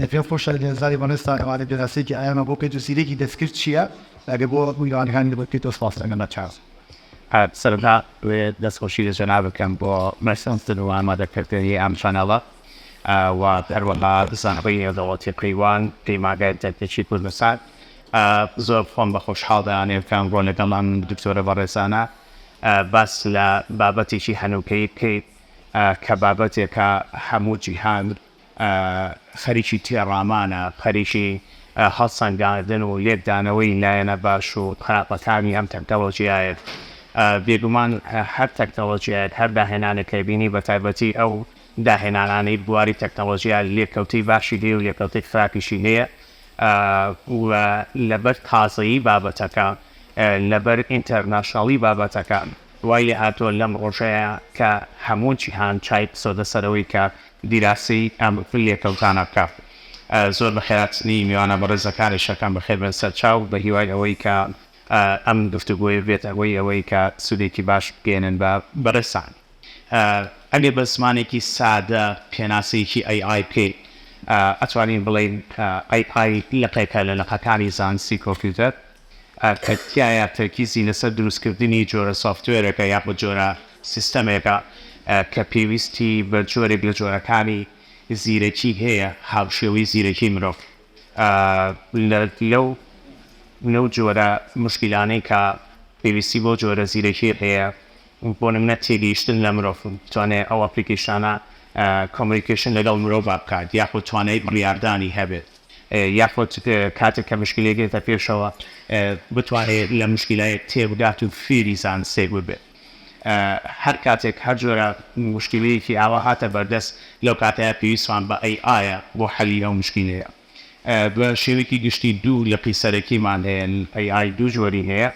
دە پێم خۆشە لێزاری بەڕێز تا ئێوارێ پێناسەیەکی ئایانمان بۆ بکەیت و سیرەکی دەستکرد چییە ئەگەر بۆ میوانەکانی لێ بکەیتەوە سپاست ئەکەم بە چاوس. سەرەتا دەوێ دەست خۆشی لە جەنابت بکەم بۆ بەرسەندن و ئامادەکردنی ئەم چەناڵە و هەروەها زانکۆی نێودەوڵەتی قەیوان پەیمانگای ئینتەرنێتی کوردستان زۆر خۆم بە خۆشحاڵ دەیانەوێت کە ئەمڕۆ لەگەڵ ئەم دکتۆرە بەڕێزانە باس لە بابەتێکی هەنووکەیی بکەین کە بابەتێکە هەموو جیهان خەریکی تێڕامانە، خەریکی هەڵسەنگاندن و لێکدانەوەی لایەنە باش و خراپەکانی ئەم تەکنەلۆژیایە. بێگومان هەر تەکنەلۆژیایەک، هەر داهێنانێک کە بینی، بەتایبەتی ئەو داهێنانانەی بواری تەکنەلۆژیا لێکەوتەی باشی هەیە و لێکەوتەی خراپیشی هەیە و لەبەر تازەیی بابەتەکە، لەبەر ئینتەرناشناڵی بابەتەکە وای لێهاتووە لەم ڕۆژەیە کە هەموو جیهان چای بسۆتە سەرەوەی کە دیراسەی ئەم لێکەوتانە بکە. زۆر بە خێراتنی میوانە بەڕێزەکانی شەکەم بەخێر بێن سەر چاو، بە هیوای ئەوەی کە ئەم گفتوگۆیە بێت هۆی ئەوەی کە سوودێکی باش بگەیەنن بە بەڕێزتان. ئەگەر بە زمانێکی سادە پێناسەیەکی ئەی ئای بکەین، ئەتوانین بڵێین ئەی ئای لقێکە لە لقەکانی زانستی کۆمپیوتەر. کە تیایا تەرکیزی لەسەر دروستکردنی جۆرە سۆفتوێرێکە یاخود جۆرە سیستەمێکە کە پێویستی بە جۆرێک لە جۆرەکانی زیرەکی هەیە هاوشێوەی زیرەکی مرۆڤ لەو لەو جۆرە مشکیلانەی کە پێویستی بەو جۆرە زیرەکیە هەیە بۆ نمونە تێگەیشتن لە مرۆڤ بتوانێ ئەو ئەپلیکەیشانە کۆمۆنیکەیشن لەگەڵ مرۆڤا بکات یاخود توانای بڕیاردانی هەبێت یاخود کاتێک کە مشکلەیەک دێتە پێشەوە بتوانێ لە مشکلایەک تێبگات و فێری زانستێک ببێت هەر کاتێک هەر جۆرە مشکلەیەکی ئاوا هاتە بەردەست لەو کاتەیە پێویستمان بە ئەی ئایە بۆ حەلی ئەو مشکلەیە بە شێوەیەکی گشتی دوو لقی سەرەکیمان هەیە ئەی ئای دوو جۆری هەیە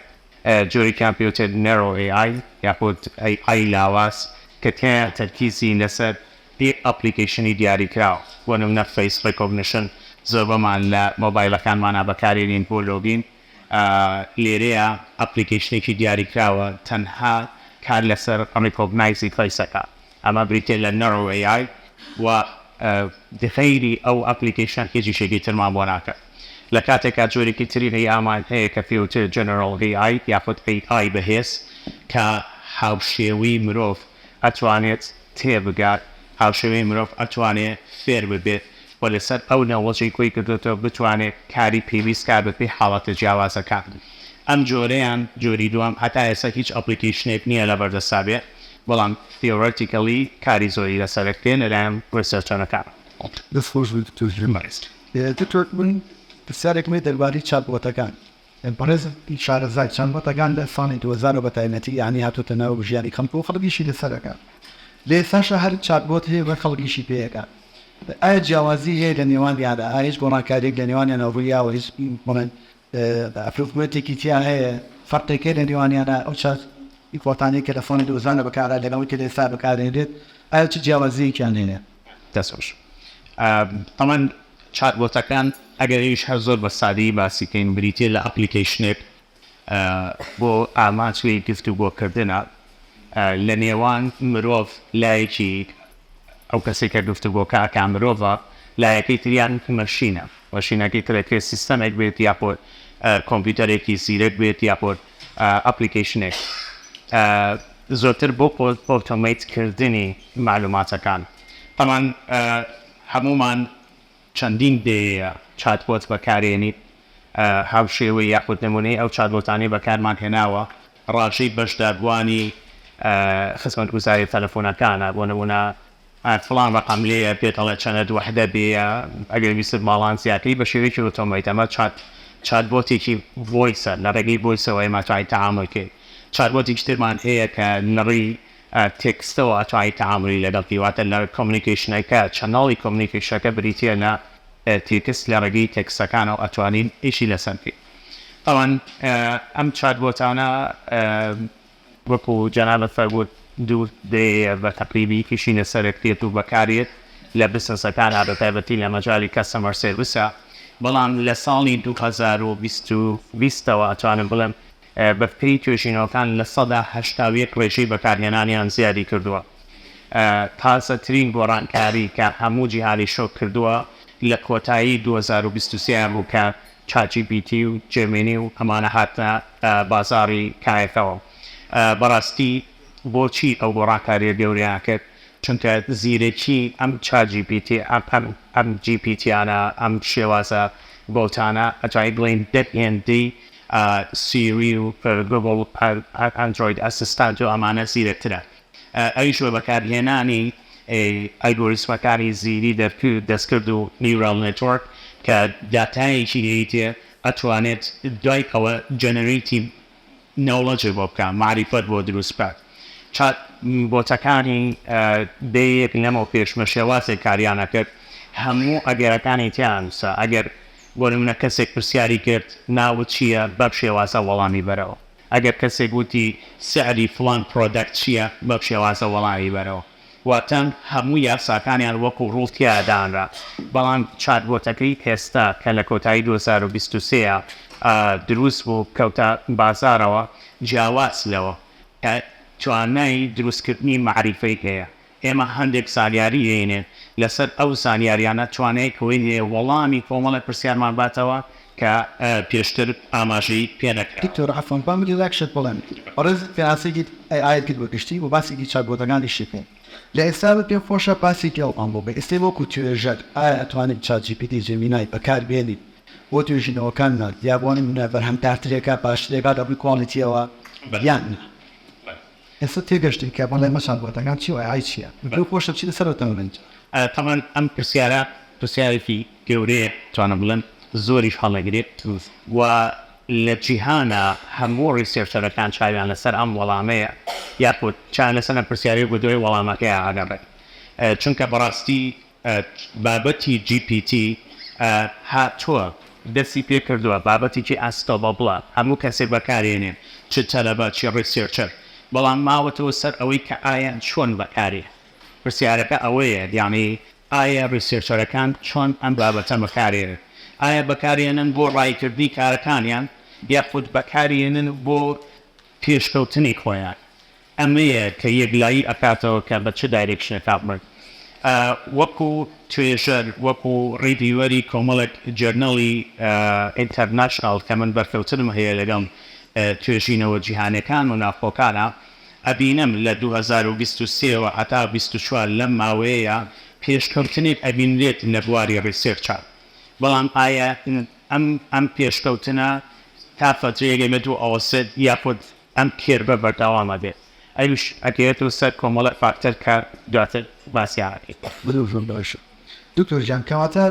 جۆری کامپیوتەر Narrow AI یاخود AI ی لاواز کە تیایا تەرکیزی لەسەر یەک ئەپڵیکەیشنی دیاریکراوە، بۆ نمونە فەیس ڕیکۆگنیشن زۆربەمان لە مۆبایلەکانمانا بەکارێنین بۆ لۆگین، لێرەیا ئەپڵیکەیشنێکی دیاریکراوە تەنها کار لەسەر ڕیکۆگنایزی فەیس ئەکات. ئەمە بریتیە لە Narrow AI و غەیری ئەو ئەپلیکەیشنە هیچ ئیشێکی ترمان بۆ ناکات لە کاتێکا جۆرێکی تری AI مان هەیە کە پێوترێت General AI یاخود AI بەهێز کە هاوشێوەی مرۆڤ ئەتوانێت تێبگات هاوشێوەی مرۆڤ ئەتوانێت فێر ببێت و لەسەر ئەو نەوەجەی کۆی کردۆتەوە بتوانێت کاری پێویست بکات بەپێی حاڵەتە جیاوازەکان ئەم جۆرەیان جۆری دووەم هەتا ئێستا هیچ ئەپلیکەیشنێک نیە لەبەردەستا بێت بەڵام Theoretically کاری زۆری لەسەر ئەکرێ لەلایەن ڕیسێرچەرەکان. پرسیارێکم هەیە دەربارەی چاتبۆتەکان بەڕێز شارەزای چاتبۆتەکان لە ساڵی دوو هەزار و بەتایبەتی یانی هاتۆتە ناو ژیانی خەڵک و خەڵک ئیشی لەسەر ئەکات لە ئێستاشا هەر چاتبۆت هەیە و خەڵک ئیشی پێ ئەکات ئایا جیاوازی هەیە لە نێوانیانا ئایا هیچ گۆڕانکاریەک لە نێوانیانا ڕوویاوە هیچ بڵێن ئەپروفمێنتێکی تیا هەیە فەرقێکە لە نێوانیانا ئەو چارج ئیکۆتانەی کە لە فۆنی دۆزانە بەکارا لەگەڵ ئەوەی کە لە ئێستا بەکاردێنرێت ئایا چ جیاوازییەکیان هەیە؟ دەست خۆش تەمان چات بۆتەکان ئەگەر ئیش هەر زۆر بە سادەیی باسی کەین بریتیە لە ئەپلیکەیشنێک بۆ ئامانچ وی گفتوگۆکردنە لە نێوان مرۆڤ لایەکی ئەو کەسەی کە گفتوگۆکە ئەکا مرۆڤە، لایەکەی تریان مەشینە، مەشینەکەی تر ئەکرێ سیستەمێک بێت یاخود کۆمپیوتەرێکی زیرەک بێت یاخود ئەپلیکەیشنێک زۆرتر بۆ ئۆتۆمەیت کردنی مەعلوماتەکان تەبعەن هەموومان چەندین دەیەیە چاتبۆت بەکارێنیت هاوشێوەی یاخود نمونەی ئەو چاتبۆتانەی بەکارمان هێناوە ڕاژەی بەشداربوانی خزمەتگوزاری تەلەفونەکانە بۆ نمونە فڵان ڕەقەم لێیە پێت ئەڵێ چەنەد وەحدە بێیە ئەگەر ویستت باڵانس زیاتری بە شێوەیەکی ئۆتۆمەیت ئەمە چات چاتبۆتێکی ڤۆیسە لە ڕێگەی ڤۆیسەوە ئێمە توانین تەعامول کەین چاتبۆتێکی ترمان هەیە کە نڕی تێکستە واتای تەعامولی لەگەڵ تی واتە لە کۆمنیکەیشنەکە چەناڵی کۆمنیکەیشەکە بریتیە لە تێکست لە ڕێگەی تێکستەکانەوە ئەتوانین ئیشی لەسەر بکەین تاوان ئەم چات بۆتانە وەکو جەنابت فەرمووت دوو دەیەیە بە تەقریبی ئیشی لەسەر دەکرێت و بەکارێت لە بزنسەکانا بە تایبەتی لە مەجالی کەستەمەر سێرڤسە بەڵام لە ساڵی دوو هەزار و بیست و بیست ەوە ئەتوانم بڵێم بەپێی توێژینەوەکان لە سەدا هەشتا و یەک ڕێژەی بەکارهێنانیان زیادی کردووە. تازەترین گۆڕانکاری کە هەموو جیهانی شۆک کردووە لە کۆتایی دوو هەزار و بیست و سێ بوو کە چات جی پی تی و جێمینی و ئەمانە هاتنە بازاڕی کایەکەوە. بەڕاستی بۆچی ئەو گۆڕانکارییە گەورەیان کرد؟ چونکە زیرەکی ئەم چات جی پی تی، ئەم جی پی تیانە، ئەم شێوازە بەوتانە ئەجای بڵێین دە هێندەی سیری و گۆگڵ ئەندرۆید ئەسستانت و ئەمانە زیرەکترە ئەویش بە بەکارهێنانی ئەلگۆریسمەکانی زیری دەستکرد و نیورال نێتۆرک کە داتایەکی لێیتێ ئەتوانێت دوای ئەوە جەنەرەیتی نەوڵەجێ بۆ بکات مەعریفەت بۆ دروست بکات چات بۆتەکانی دەیە یەک لەمەو پێش بە شێوازێک کاریان ئەکرد هەموو ئەگەرەکانی تیا ئەنوسا ئەگەر بۆ نمونە کەسێک پرسیاری کرد ناوت چیە بەم شێوازە وەڵامی بەرەوە ئەگەر کەسێک وتی سعری فڵان پرۆدەکت چیە بەم شێوازە وەڵامی بەرەوە واتە هەموو یاساکانیان وەکو ڕوڵ تیایا دانرا بەڵام چات بۆتەکەی ئێستا کە لە کۆتایی دوو هەزار و بیست و سێ دروست بوو کەوتە بازاڕەوە جیاواز لەوە کە توانای دروستکردنی مەعریفەی هەیە ئێمە هەندێک زانیاری دەینێن، لەسەر ئەو زانیاریانە توانای ئەوەی هەیە وەڵامی کۆمەڵێک پرسیارمان باتەوە کە پێشتر ئاماژەی پێ نەکرا. دکتۆر عەفوەن با من یەک شت بڵێم، بەڕێزت پێناسەیەکی ئەی ئایت کرد بە گشتی و باسێکی چات بۆتەکانیشی کرد، لە ئێستا بە پێم خۆشە باسی گێڵمان بۆ بکەی، ئێستێ وەکو توێژەر ئایا ئەتوانین چات جی پی تی جیمینای بەکار بێنین بۆ توێژینەوەکانمان یا بۆ نمونە بەرهەمدارترێکە باشترێکە لە ڕووی کواڵیتیەوە یان نا؟ ئێستا تێگەشتی کە بەڵێ مەشاڵ بۆتەکان چی وایە ئای چیە بەو خۆشە چی لەسەر ئەتەوە بنج. تەبعەن ئەم پرسیارە پرسیارێکی گەورەیە توانم بڵێم زۆریش هەڵەگرێت و لە جیهانا هەموو ڕیسێرچەرەکان چاویان لەسەر ئەم وەڵامەیە یاخود چاویان لەسەر ئەم پرسیارەیە و بەدوای وەڵامەکەیا ئەگەڕێن چونکە بەڕاستی ئە بابەتی جی پی تی ئە هاتوە دەستی پێ کردوە بابەتێکی ئاسکە ڵە بڵە هەموو کەسێ بەکارێنێ چ تەلەبە چ ڕیسێرچەر بەڵام ماوەتەوە سەر ئەوەی کە ئایا چۆن بەکارێ پرسیارەکە ئەوەیە یانی ئایا ڕیسێرچەرەکان چۆن ئەم بابەتە بەکارێنن ئایا بەکارێنن بۆ ڕاییکردنی کارەکانیان یاخود بەکارێنن بۆ پێشکەوتنی خۆیان ئەمەیە کە یەکلایی ئەکاتەوە کە بە چ دایرێکشنێکا بڕۆین. وەکو توێژەر، وەکو ڕیڤیوەری کۆمەڵێک جۆرناڵی ئینتەرناشناڵ کە من بەرکەوتنم هەیە لەگەڵ توێژینەوە جیهانیەکان و ناوخۆکانا، ئەبینم لە دوو هەزار و بیست و سێ وە هەتا بیست و چوار لەم ماوەیەیا پێشکەوتنێک ئەبینرێت لە بواری ڕیسێرچا. بەڵام ئایا ئەم پێشکەوتنە تا فترەیەک ئێمە دوو ئەوەسێت یاخود ئەم کێربە بەردەوام ئەبێت ئەویش ئەگەیەتەوە سەر کۆمەڵێ فاکتەر کە دواتر باسیان ئەکەین. بزر زۆر باشە دکتۆر گیان کەواتە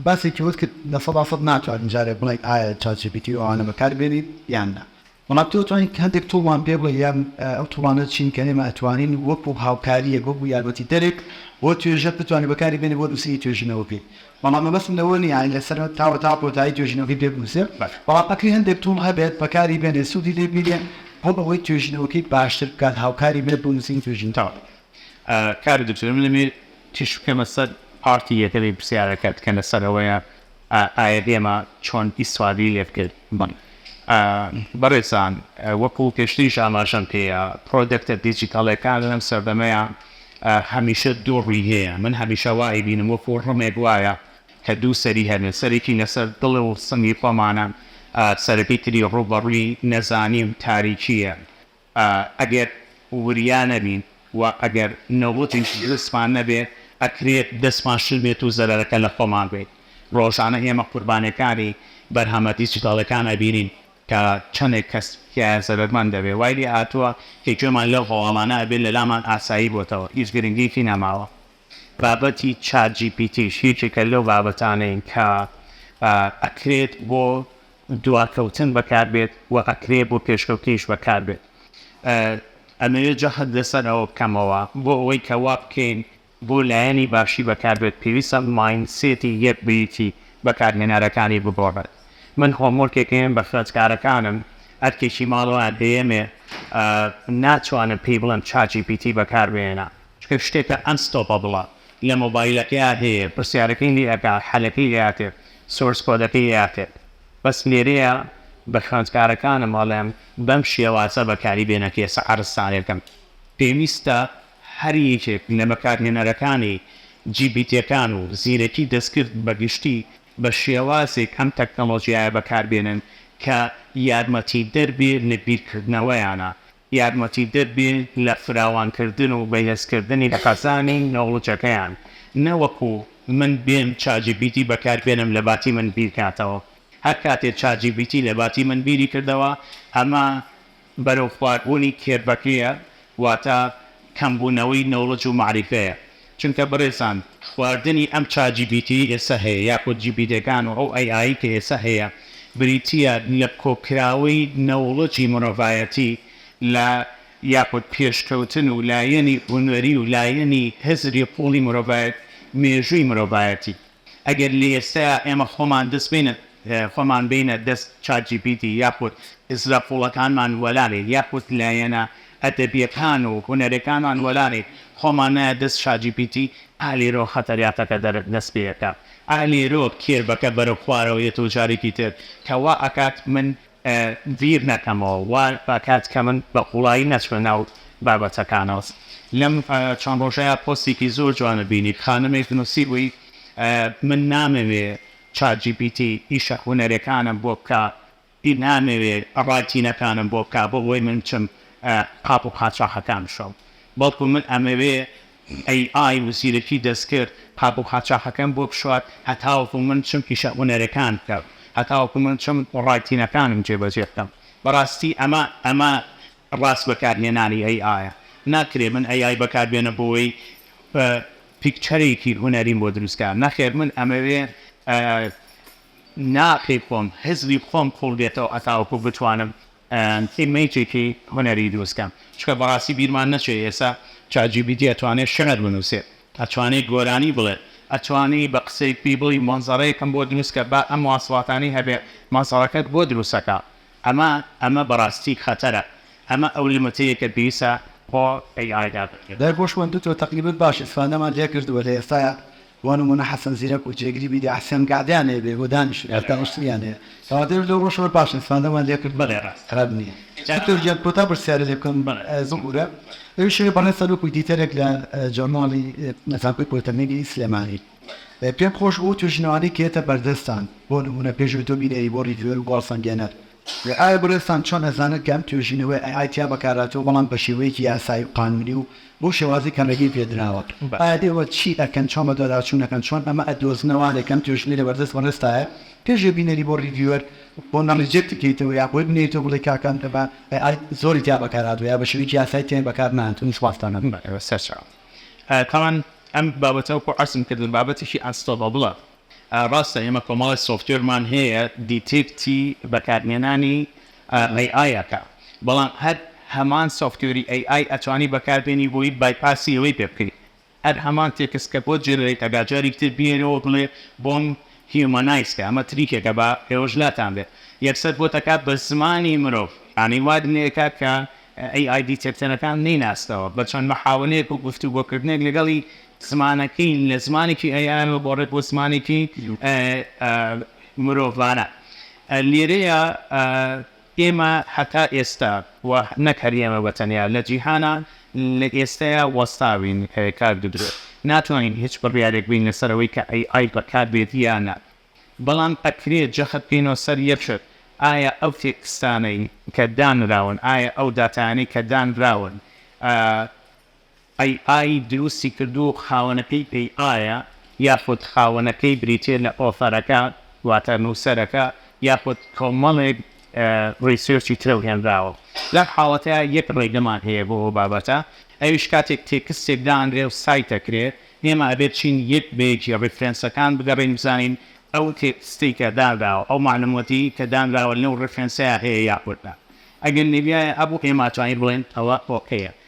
باسێکی ئەوەت کرد لە سەدا سەد ناتوانین جارێ بڵێین ئایا چات جی پی تی و ئەوانە بەکار بێنین یان نا بەڵام تۆ توانیت هەندێک توڵمان پێ بڵێی یان ئەو توڵانە چین کە ئێمە ئەتوانین وەکو هاوکاریەک وەکو یارمەتیدەرێک بۆ توێژەر بتوانین بەکاری بێنین بۆ نووسینی توێژینەوەکەی بەڵام مەبەستم لەوە نییە لە سەرەت تا وەتا کۆتایی توێژینەوەکەی پێ بنووسێت، بەڵام ئەکری هەندێک تووڵ هەبێت بەکاری بێنێت سوودی لێ بینێت بۆ ئەوەی توێژینەوەکەی باشتر بکات هاوکاری بێت بۆ نووسینی توێژینەوە. کاک دکتۆر من دەمەوێ تیشک بکەمە سەر پارتی یەکەمی پرسیارەکەت کە لە سەر ئەوەیە ئایە ئێمە چۆن ئیستفادەی لێ بکەین. بەڕێزان وەکوو پێشتریش ئاماژەم پێیە پرۆدەکتە دیجیتاڵیەکان لەم سەردەمەیا هەمیشە دوو ڕووی هەیە، من هەمیشە وا ئەیبینم وەکوو ڕمێک وایە کە دوو سەری هەبێ، سەرێکی لەسەر دڵ و سنگی خۆمانە، سەرەکەی تری ڕووبەڕووی نەزانی و تاریکییە. ئەگەر وریا نەبین و ئەگەر نەوتیش دروستمان نەبێ، ئەکرێت دەستمان شل بێت و زەرەرەکە لە خۆمان بێت. ڕۆژانە ئێمە قوربانییەکانی بەرهەمە دیجیتاڵییەکان ئەبینین. کە چەندێک کەس تیایا زەرەرمەند دەبێت، وای لێ هاتووە کە گوێمان لەو هەواڵانە ئەبێت لەلامان ئاسایی بۆتەوە هیچ گرنگیەکی نەماوە. بابەتی چات جی پی تیش یەکێکە لەو بابەتانەی کە ئەکرێت بۆ دواکەوتن بەکار بێت و ئەکرێت بۆ پێشکەوتنیش بەکار بێت. ئەمەوێت جەخت لەسەر ئەوە بکەمەوە بۆ ئەوەی کە وا بکەین بۆ لایەنی باشی بەکاربێت پێویستە مایندسێتی یەک بریتی بەکارهێنەرەکانی بگۆڕێت من هۆمۆرکێک هەیەم بە خوێندکارەکانم ئەرکێکی ماڵەوەیان پێیەمێ ناتوانم پێی بڵێم چات جی پی تی بەکاربهێنە چونکە شتێکە ئەن ستۆپەبڵە لە مۆبایلەکەیا هەیە پرسیارەکەی لێ ئەکا حەلەکەی لێ ئەکرێ سۆرس کۆدەکەی لێ ئەکرێ بەس لێرەیا بە خوێندکارەکانم ئەڵێم بەم شێوازە بەکاری بێنە کێسە عەرزسازەکەم پێویستە هەر یەکێک لە بەکارهێنەرەکانی جی پی تیەکان و زیرەکی دەستکرد بە گشتی بە شێوازێک ئەم تەکنەڵۆژیایە بەکاربێنن کە یارمەتیدەر بێ لە بیرکردنەوەیانە، یارمەتیدەر بێ لە فراوانکردن و بەهێزکردنی خەزانی نۆڵجەکەیان، نەوەکو من بێم چاجیپیتی بەکاربێنم لەباتی من بیرکاتەوە، هەرکاتێ چاجیپیتی لەباتی من بیری کردەوە ئەمە. بەرەو خواربوونی کێرڤەکەیە واتە کەمبوونەوەی نۆڵج و مەعریفەیە چونکە بەڕێزان خواردنی ئەم چات جی پی تی ئێستا هەیە یاخود جی پی تێکان و ئەو ئەی ئایی کە ئێستا هەیە بریتیە لە کۆکراوەی نۆڵجی مرۆڤایەتی لە یاخود پێشکەوتن و لایەنی هونەری و لایەنی هزری قوڵی مرۆڤایەت مێژووی مرۆڤایەتی ئەگەر لە ئێستەیا ئێمە خۆمان دەست بینە خۆمان بینە دەست چات جی پی تی یاخود ئیسرە قوڵەکانمان وەلانێت یاخود لایەنە ئەدەبیەکان و هونەرێکانمان وەلانێت خۆمان نایە دەست چات جی پی تی ئا لێرەوە خەتەریاتەکە دەرت دەست پێ ئەکات ئا لێرەوە کێربەکە بەرەو خوارەوە یەت و جارێکی تر کە وا ئەکات من بیر نەکەمەوە وا ئەکات کە من بە قوڵایی نەچمە ناو بابەتەکانەوە. لەم چەند ڕۆژەیا پۆستێکی زۆر جوانت بینی خانمێک نووسیبووی من نامەوێ چات جی پی تی ئیشە هونەرێکانم بۆ بکا ی نامەوێ ڕایتینەکانم بۆ بکا بۆ ئەوەی من بچم قاپ و قاچاخەکان بشۆم بەڵکو من ئەمەوێ AI و زیرەکی دەستکرد قاپ و قاچاخەکەم بۆ بشوات هەتاوەکو من بچم ئیشە هونەرەکان بکەم هەتاوەکو من بچم ڕایتینەکانم جێبەجێ بکەم بەڕاستی ئەمە ئەمە ڕاست بەکارهێنانی AI ە ناکرێ من AI بەکار بێنم بۆوەی پیکچەرێکی هونەریم بۆ دروست کا نەخێر من ئەمەوێ ناخی خۆم هزری خۆم قوڵ بێتەوە هەتاوەکو بتوانم تیمەیتێکی هونەری دروست کەن چونکە بەڕاستی بیرمان نەچێ ئێستا چات جی پی تی ئەتوانێ شعر بنوسێت ئەتوانێ گۆرانی بڵێت ئەتوانی بە قسەی پی بڵی مەنزەرەیەکم بۆ دروست کە با ئەم مواصفاتانەی هەبێ مەنزەرەکەت بۆ دروست ئەکا ئەمە ئەمە بەڕاستی خەتەرە ئەمە ئەو لیمتەیە کە پێویستە بۆ ئەی ئای دابنرێ. دەرگۆشم دوکتۆر تەقلیبت باشە ئیفادەمان لێکردوە لە ئێستایا بۆ نموونە حەسەن زیرەک و جێگری میدیا حسێن گەعدەیان هەیە بێ بۆ دانیشتن یان دانوستنیان هەیە کەواتە ئێمە لەو ڕۆژەوە پاش ئیسفادەمان لێ کرد بەڵێ ڕاست خراپ نییە دکتۆر گیان کۆتا پرسیارە لێ بکەم زبورە ئەویش هەیە بەڕێز سەرۆک ئیدیتەرێک لە جۆرناڵی زانکۆی پۆلیتەکنیکی سلێمانی پێم خۆش بوو توێژینەوانەی کێتە بەردەستان بۆ نموونە پێشوی تۆ بینەری بۆ ڕیڤیوەر و گۆڵسەنگێنەر ئایا بەڕێزتان چۆن ئەزانن کە ئەم توێژینەوەیە ئەی ئای تیا بەکارهاتووە بەڵام بە شێوەیەکی یاسایی و قانونی و بۆ شێوازی کەمەگی پێدراوە ئایا ئێوە چی ئەکەن چۆن بەدواداچون ئەکەن چۆن ئەمە ئەدۆزنە وانەی کەم توێژینەی لە بەردەست بەڕێزتایە پێش وێ بینەری بۆ ڕیڤیوەر بۆ نە ڕیجێکتی کەیتەوە یا بۆی بنێیتەوە بڵێی کاکە ئەم کەمە ئەی ئای زۆری تیا بەکار هاتوە یا بەشێوەیەکی یاسایی تیا بەکار نەهاتون سوپاستانم. بەڵێ سەرچاوە تاوان ئەم بابەتە وەکو عەرزم کردم بابەتێکی ئەنستۆبابڵە ڕاستە ئێمە کۆمەڵێ سۆفتوێرمان هەیە دیتێکتی بەکارهێنانی AI ئەکا بەڵام هەر هەمان سۆفتوێری AI ئەتوانی بەکاربێنی بۆی بایپاسی ئەوەی پێ بکەی هەر هەمان تێکست کە بۆت جێنرەیت ئەکا جاریک تر بیەرەوە بڵێ بۆم هیومەنایز کە ئەمە تریکێکە با ئێوەش لاتان بێ یەکسەر بۆت ئەکا بە زمانی مرۆڤ یانی وات لێ ئەکا کە AI دیتێکتەرەکان نەیناستەوە بە چەند محاوەلەیەک و گفتوگۆکردنێک لەگەڵی زمانەکەی لە زمانێکی ئەی ئای ەوە گۆڕێت بۆ زمانێکی مرۆڤانە. لێرەیا ئێمە هەتا ئێستا و نەک هەر ئێمە بە تەنیا لە جیهانا لە ئێستەیا وەستاوین کاک دکتۆر ناتوانین هیچ بڕیارێک بین لە سەر ئەوەی کە ئەی ئای بەکار بێت یا نا بەڵام ئەکرێ جەخت بکەینەوە سەر یەک شت ئایا ئەو تێکستانەی کە دانراون ئایا ئەو داتایانەی کە دانراون ئەی ئای دروستی کردوو خاوەنەکەی پێی ئایە یاخود خاوەنەکەی بریتیە لە ئۆثەرەکە واتە نوسەرەکە یاخود کۆمەڵێک ڕیسێرچی ترەو هێنراوە لەم حاڵەتەیا یەک ڕێگەمان هەیە بۆ ئەو بابەتە ئەویش کاتێک تێکستێک دانرێو سایت ئەکرێ ئێمە ئەبێت چین یەک بە یەکی ڕیفرێنسەکان بگەڕێین بزانین ئەو تێکستەی کە دانراوە ئەو مەعلومەتی کە دانراوە لەو ڕیفرێنسەیا هەیە یاخود نا ئەگەر نەبیایە ئەبوو ئێمە ئەتوانین بڵێین ئەوە ئۆکەیە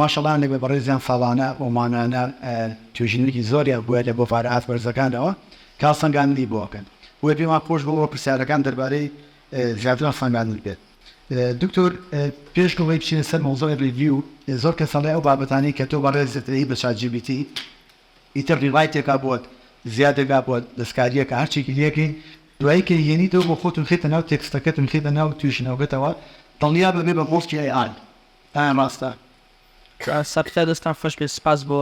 ماشەڵا هەندێک لە بەڕێزیان ساڵانە و مانگانە توێژینەوەیەکی زۆریان بووە لە بۆفانە ئاست بەرزەکانەوە کە سەنگاندنی بۆ ئەکەن بۆیە پێمان خۆش بوو ئەوە پرسیارەکان دەربارەی زیاتر لە سەنگاندن بێت دکتۆر پێش ئەوەی بچینە سەر مەوزوعی ڕیڤیو زۆر کەس ئەڵێ ئەو بابەتانەی کە تۆ بەڕێزت ئەیەی بە چات جی بی تی ئیتر ڕیڕایتێکا بۆت زیادێکا بۆت دەستکارییەکە هەر چێکی لێ کەی دوایی کە هێنیتەوە بۆ خۆت و خەیتە ناو تێکستەکەت و خەیتە ناو توێژینەوەکەتەوە دڵنیا بە بێ بە مۆسکی ئەی ئای پایان ڕاستە. سەرکەتای دەستان خۆش بێت سپاس بۆ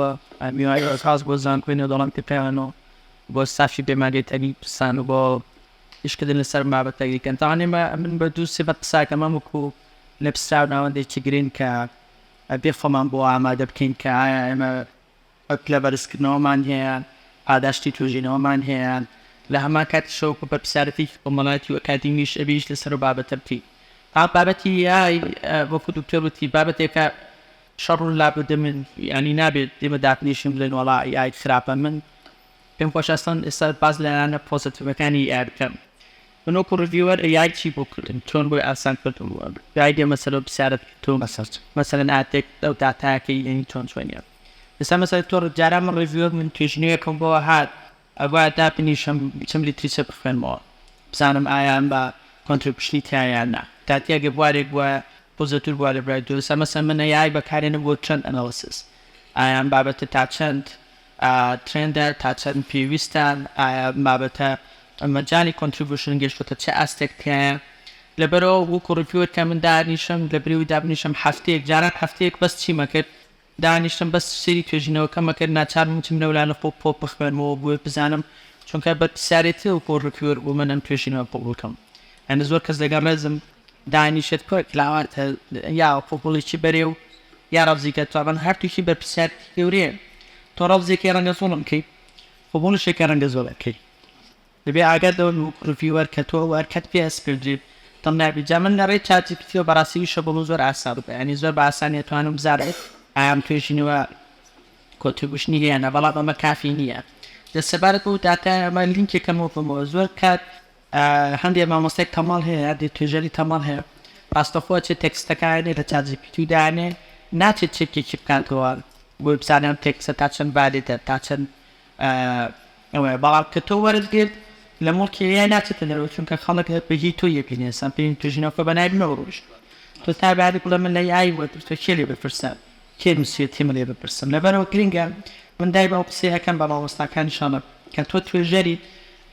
میوانی و سپاس بۆ زانکۆی نێودەوڵەتی پەیمان و بۆ ستافی پەیمانگەی تەرمی کوردستان و بۆ ئیشکردن لەسەر بابەتەکەی کە تاوانێ مە من بە دوو سێ بە قساکە مەم وکو نەپسراو ناوەندێکی گرنگ کە ئەبێ خۆمان بۆ ئامادە بکەین کە ئایا ئێمە پلە بەرزکردنەوەمان هەیە، پاداشتی توێژینەوەمان هەیە، لە هەمان کاتیشەوە بە بەرپسیارەتێکی کۆمەڵایەتی و ئەکادیمیش ئەبێ ئیش لەسەر ئەو بابەتە بکەین. بەڵام بابەتی AI وەکو دکتۆر وتی بابەتێکە شەڕ و لابد من یانی نابێت ئێمە داتنیشین بڵێن وەڵا AI خراپە، من پێمخۆشە ئەسڵەن ئێستا باس لە لایەنە پۆزەتیڤەکانی AI بکەم. من وەکو ڕیڤیوەر ئەی ئای چی بۆ کردم چۆن بۆی ئاسان کردم گایدی ئەم مەسەلە و پرسیارە تۆ بەسەر چ مەسەلەن ئاتێک ئەو داتایەکەی یەنی چۆن چۆنیان ئێستا مەسەلە تۆ جاران من ڕیڤیوەر من توێژینەوەکەم بۆ هات ئەگوایە دابنیشم بچم لیتریچە بخوێنمەوە بزانم ئایا ئەم بە کۆنتریبیوشنی تیا یان نا داتی ئەگەر بوارێک بووە بۆ زەتور بووە لە برای دوو ئێستا مەسەلەن من ئەی ئای بەکارێنم بۆ چەند ئەنالیسیس ئایا ئەم بابەتە تا چەند ئایا ترێندە تا چەند پێویستە؟ ئایا بابەتە مەجالی کۆنتریبوشن گەشتۆتە چ ئاستێک تیایە؟ لەبەرئەوە وەکو ڕیڤیوەر کە من دانیشم لە برێوی دابنیشم هەفتەیەک جاران هەفتەیەک بەس چیم ئەکرد دانیشتم بەس سەیری توێژینەوەکەم ئەکرد ناچاربووم بچم لەو لانە خۆ پۆپ بخوێنمەوە بۆی بزانم چونکە بەرپرسیارێتی وەکو ڕیڤیوەر بۆ من ئەم توێژینەوە قبوڵ کەم یانی زۆر کەس لەگەڵ ڕێزم. دانیشت کۆی کلاوان تە یا وەکوو گوڵێکی بەرێ و یا ڕەمزیکە تۆ ئەمن هەر تووکی بە پرسیارێکی گەورەیە تۆ ڕەمزێکی ڕەنگە زۆڵم کەی خۆ گوڵشێکە ڕەنگە زۆڵم کەی دەبێ ئاگات لەوە بی وەکوو ڕڤیوەر کە تۆ ئەو ئەرکەت پێ ئەسپێردرێ دڵنیابی جا من لە ڕێی چات جی پی تیەوە بە ڕاستی وشە بۆ من زۆر ئاسا بوو یانی زۆر بە ئاسانی ئەتوانم بزانم ئایا ئەم توێژینەوە کۆتریبوشنی هەیە یان نا بەڵام ئەمە کافی نییە دە سەبارەت بەو داتایە ئەمە لینکێکە مۆفەمەوە زۆر کات هەندێ مامۆستای تەمەڵ هەیە هەندێ توێژەری تەمەڵ هەیە ڕاستەخۆ ئەچێ تێکستەکانێ لە چات جیپیتی دانێ ناچێت چێکێکی بکاتەوە بۆی بزانێ ئەم تێکستە تا چەند ڤالیدە تا چەند ئەوەیە بەڵام کە تۆ وەرت گرت لە موڵکی ئێ ئای ناچێتە دەرەوە چونکە خەڵک هەر بە هی تۆ یەبینێ ئێستا پێی توێژینەوەکە بە نای منەوە ڕۆیشتووە تۆ تا باری بڵێ من لە ئای وەرگرتووە کێ لێ بپرسە کێ نووسیویەتی من لێ بپرسم لەبەرەوە گرینگە من دایمە ئەو قسەیە ئەکەم بە مامۆستاکان ئینشاڵڵا کە تۆ توێژەریت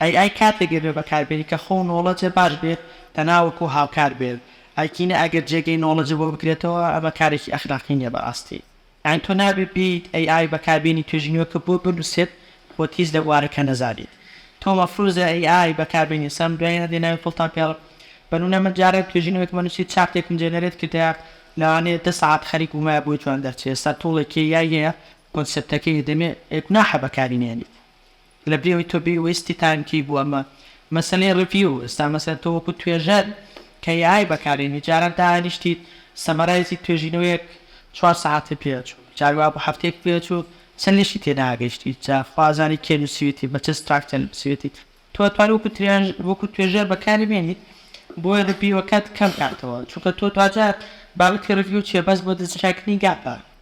ئەی ئای کاتێک ئەبێ بەکار بێنی کە خۆو نۆڵەجە باش بێت تەنا وەکو هاوکار بێت ئایکینە ئەگەر جێگەی نۆڵەجە بۆ بگرێتەوە ئەمە کارێکی ئەخلاقی نیە بەراستی یانی تۆ نابێ بێیت ئەی ئای بەکار بێنی توێژی نوێکە بۆ بنوسێت خۆت هیچ لە بوارەکە نەزانیت تۆ مەفروزە ئەی ئای بەکار بێنی سام دوای هەندێ ناوی فڵتان پێ بەنونە من جارێک توێژی نوێکم بنوسی چارتێکم جێنەرێت کردایە لەوانەیە دە سەعات خەریک بومایە بۆی جوان دەرچێ ئێستا تۆڵێ کێیای هەیە کۆنسێپتەکەی دەمێ ئەی گوناحە بەکاری نێنیت. لە بریەوەی تۆ بی ویستی تان کی بوە مە مەسەلەی ڕڤیو ئێستا مەسەن تۆ وەکو توێژەر کە ی ئای بەکارێنی جاران دانیشتیت سەمەرایزی توێژینەوەیەک چوار سەعاتت پێ ئەچوو جار وابوو هەفتەیەکت پێ ئەچوو چەن لەشی تێ ناگەشتی جا خوا ئەزانی کێ نوسیوێتی بە چ ستراکچەر نوسیوێتی تۆ ئەتوانی وەکو ترێژ وەکو توێژەر بەکاری بێنی بۆیە ڕڤیوەکەت کەم کاتەوە چونکە تۆ دواجار بابەتی ڕڤیو چیە بەس بۆ دەستنیشان کردنی گاپە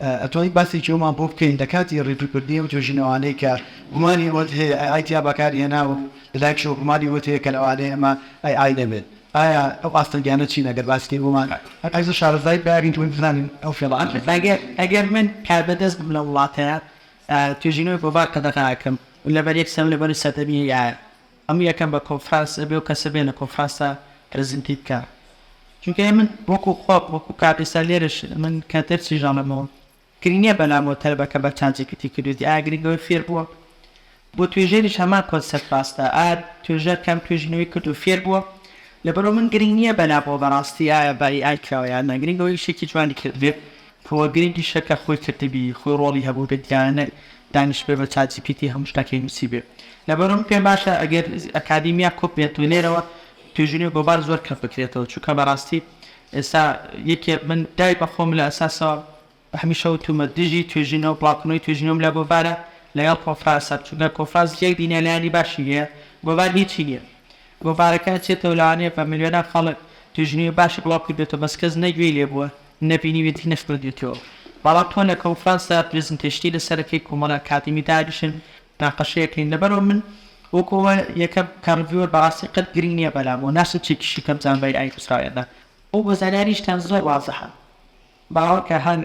ئەتوانین باسێکی ئەومان بۆ بکەین لە کاتی ڕیڤیوکردنی ئەو توێژینەوانەی کە گومانی ئەوەت هەیە ئەی ئای تیا بەکارهێنا و لە لایەکشەوە گومانی ئەوەت هەیە کە لەوانەیە ئەمە ئەی ئای نەبێت ئایا ئەو ئاستەنگیانە چین ئەگەر باسیکەین بۆمان ئەبێ شارەزای بابین و بزانین ئەو فێڵانە. ئەگەر من کاربەدەست بم لەو وڵاتەیە توێژینەوەی بۆ بار قەدەغە ئەکەم و لەبەر یەک سەم لەبەر سەردەمی ئەی ئایە هەموو یەکە بە کۆنفرانس ئەبێ و کەسە بێ لە کۆنفرانسا پرزنتی بکا چونکە ئێ من وەکو خۆم وەکو کاک ئێستا لێرەش من کە دەرسی ژانەمەوە گرنگ نیە بەلامەوە تەلەبەکە بە چات جی پی تی کردویتی ئایا گرنگە ئەوەی فێر بووە بۆ توێژەریش هەمان کۆنسێپت ڕاستە ئایا توێژەر کەم توێژینەوەی کرد و فێر بووە لەبەرئەوە من گرنگ نیە بەلامەوە بەڕاستی ئایا بە ی ئای کراوە یان نا گرنگە ئەوەی شتێکی جوانی کردبێ. تۆ گرنگی شەکە خۆی کردبی خۆی ڕۆڵی هەبوو بێت یان نەک دانیشتبێ بە چات جی پی تی هەموو شتاکی نوسیبێ لەبەرم پێم باشە ئەگەر ئەکادیمیا کۆ بێت و لێرەوە توێژینەوەی گۆبار زۆر کەم بکرێتەوە چونکە بەڕاستی ئێستا یەکێ من دای بە خۆم لە ئەساسەوە هەمیشە وتومە دژی توێژینەوە بڵاوکردنەوەی توێژینەوەم لە گۆڤارە لەگەڵ کۆنفراسە چونکە کۆنفراس یەک دینە لایەنی باشی هەیە گۆڤار هیچی نیە گۆڤارەکە ئەچێتەوە لەوانەیە بە ملیۆنان خەڵک توێژینەوەی باشی بڵاو کردبێتەوە بەس کەس نە گوێی لێ بووە نەبینیویەتی نەخوێندویەتیەوە بەڵام تۆ لە کۆنفرانسدا پرێزنتەیشنی لەسەر دەکەی کۆمەڵە ئەکادیمی دانیشن مناقەشە ئەکەین لەبەرو من وەکو ئەوە یەکەم کە ڕڤیوەر بەڕاستی قەت گرینگ نیە بەلام وە ناشم چێکیشی کەم زانبای ئاین ئیسرائیلە ئەو بە زانیاریشتان زۆر وازحە باوەڕکە هەر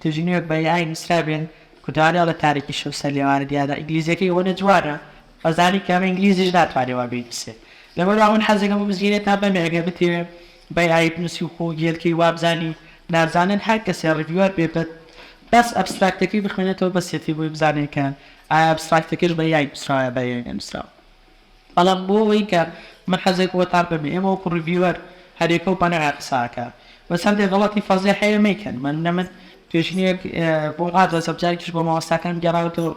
تژی نوێک بە ئاین ئیسرائیل بێن کورتوانێ ئەڵێ تاریکی شەو سەر لێوانە دیارە ئینگلیزیەکەی ئەوەنە جوانە ئەزانی کە بە ئینگلیزیش ناتوانێ وا بینووسێ. لەبەر وا من حەزێکم بۆ مزگێنێ تا بەمێ ئەگەر بتێوێ بە ئێ ئای بنووسی و خۆ گێل کەی وا بزانی نازانن هەر کەسێ ڕیڤیوەر بێ بە بەس ئەبستراکتەکەی بخوێنێتەوە بەسێتی بۆی بزانێ کە ئایا ئەبستراکتەکەش بە یای نووسراوە یا بە ئێ ئای نووسراوە. بەڵام بۆ ئەوەی کە من حەزێکم بۆ تا بەمێ ئێمە وەکوو ڕیڤیوەر هەر یەکە و بە نەوعێ قسە ئەکا. بەس هەندێ غەڵەتی فەزێح هەیە مەیکەن. مەنمنە من پێشینەیەک بۆ ڕادەزم جارێکیش بۆ مامۆستاکانم گێڕاوەتەوە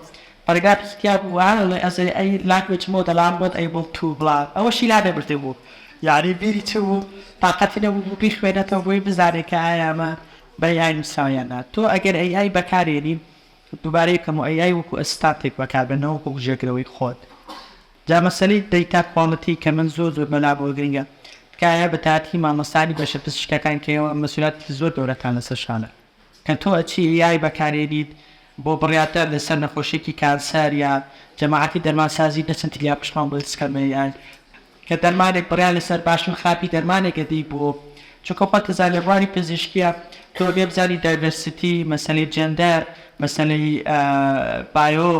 بەرگا پسکیا بوو وا ئەڵێ ئەزێ ئەی لانگوێج مۆدە لام وەت ئەیبڵ توو بڵا ئەوەشی لا نەبردە بوو یانی بیری چ بوو تاقەتی نەبوو بوو بیخوێنێتەوە بۆی بزانێ کە ئایا ئەمە بە ئەی ئای نووسراوە یان نا تۆ ئەگەر ئەی ئای بەکار ێنی دووبارەی کەم و ئەی ئای وەکوو ئەسستانتێک بەکار بێ نەوەکوو بژێگرەوەی خۆت جا مەسەلەی دەیتا کواڵتی کە من زۆر زۆر بەلام وە گرینگە تکایە بە تایەتی مامۆستانی بەشە پزیشکەکان کە ئێوە مەسوولیاتێکی زۆر گەورەتان لەسەر شانە. کە تۆ ئەچی AI بەکارێنیت بۆ بڕیاردان لەسەر نەخۆشیەکی کانسەر یا جەماعەتی دەرمانسازی دەچن تلیا پشتمان بۆ دروست کەن بە AI کە دەرمانێک بڕیار لەسەر باشی و خراپی دەرمانێک ئەدەی بۆ چونکە خۆت ئەزانی بواری پزیشکیە تۆ ئەبێ بزانی دایڤەرسیتی مەسەلەی جێندەر مەسەلەی بایۆ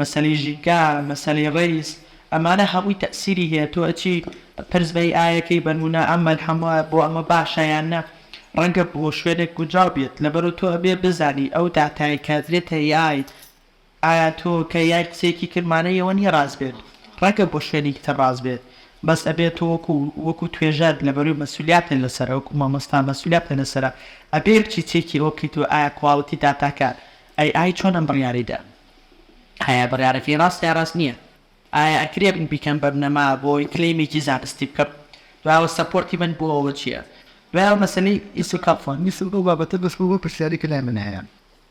مەسەلەی ژینگە مەسەلەی ڕەیز ئەمانە هەمووی تەئسیری هەیە تۆ ئەچی پرس بە AI ئەکەی بەنمونە ئەم مەلحەمە بۆ ئەمە باشە یان نە. ڕەنگە بۆ شوێنێک گونجاو بێت لەبەرو تۆ ئەبێ بزانی ئەو داتایەی کادرێ تە یایت ئایا تۆ کە یای قسەیەکی کرد مانەی ئەوە نیە ڕاست بێت ڕەنگە بۆ شوێنێکی تر ڕاست بێت بەس ئەبێ تۆ وەکو وەکو توێژەر لەبەرو مەسولیاتە لەسەرە وەکو مامۆستا مەسولیاتە لەسەرە ئەبێ بچی چێکی ئەوە بکەیتەوە ئایا کواڵیتی داتاکە ئەی ئای چۆن ئەم بڕیارەی دا ئایا بڕیارەکەی ڕاستە یا ڕاست نیە. ئایا ئەکرێ من بیکەم بە بنەما بۆ کلەیمێکی زانستی بکەم دوایەوە سەپۆرتی من بۆ ئەوە چیە دوایەوە مەسەلەی ئیسیقاڵ فۆن ویستم ئەو بابەتە بەس بۆ ئەو پرسیارەی کە لای من هەیە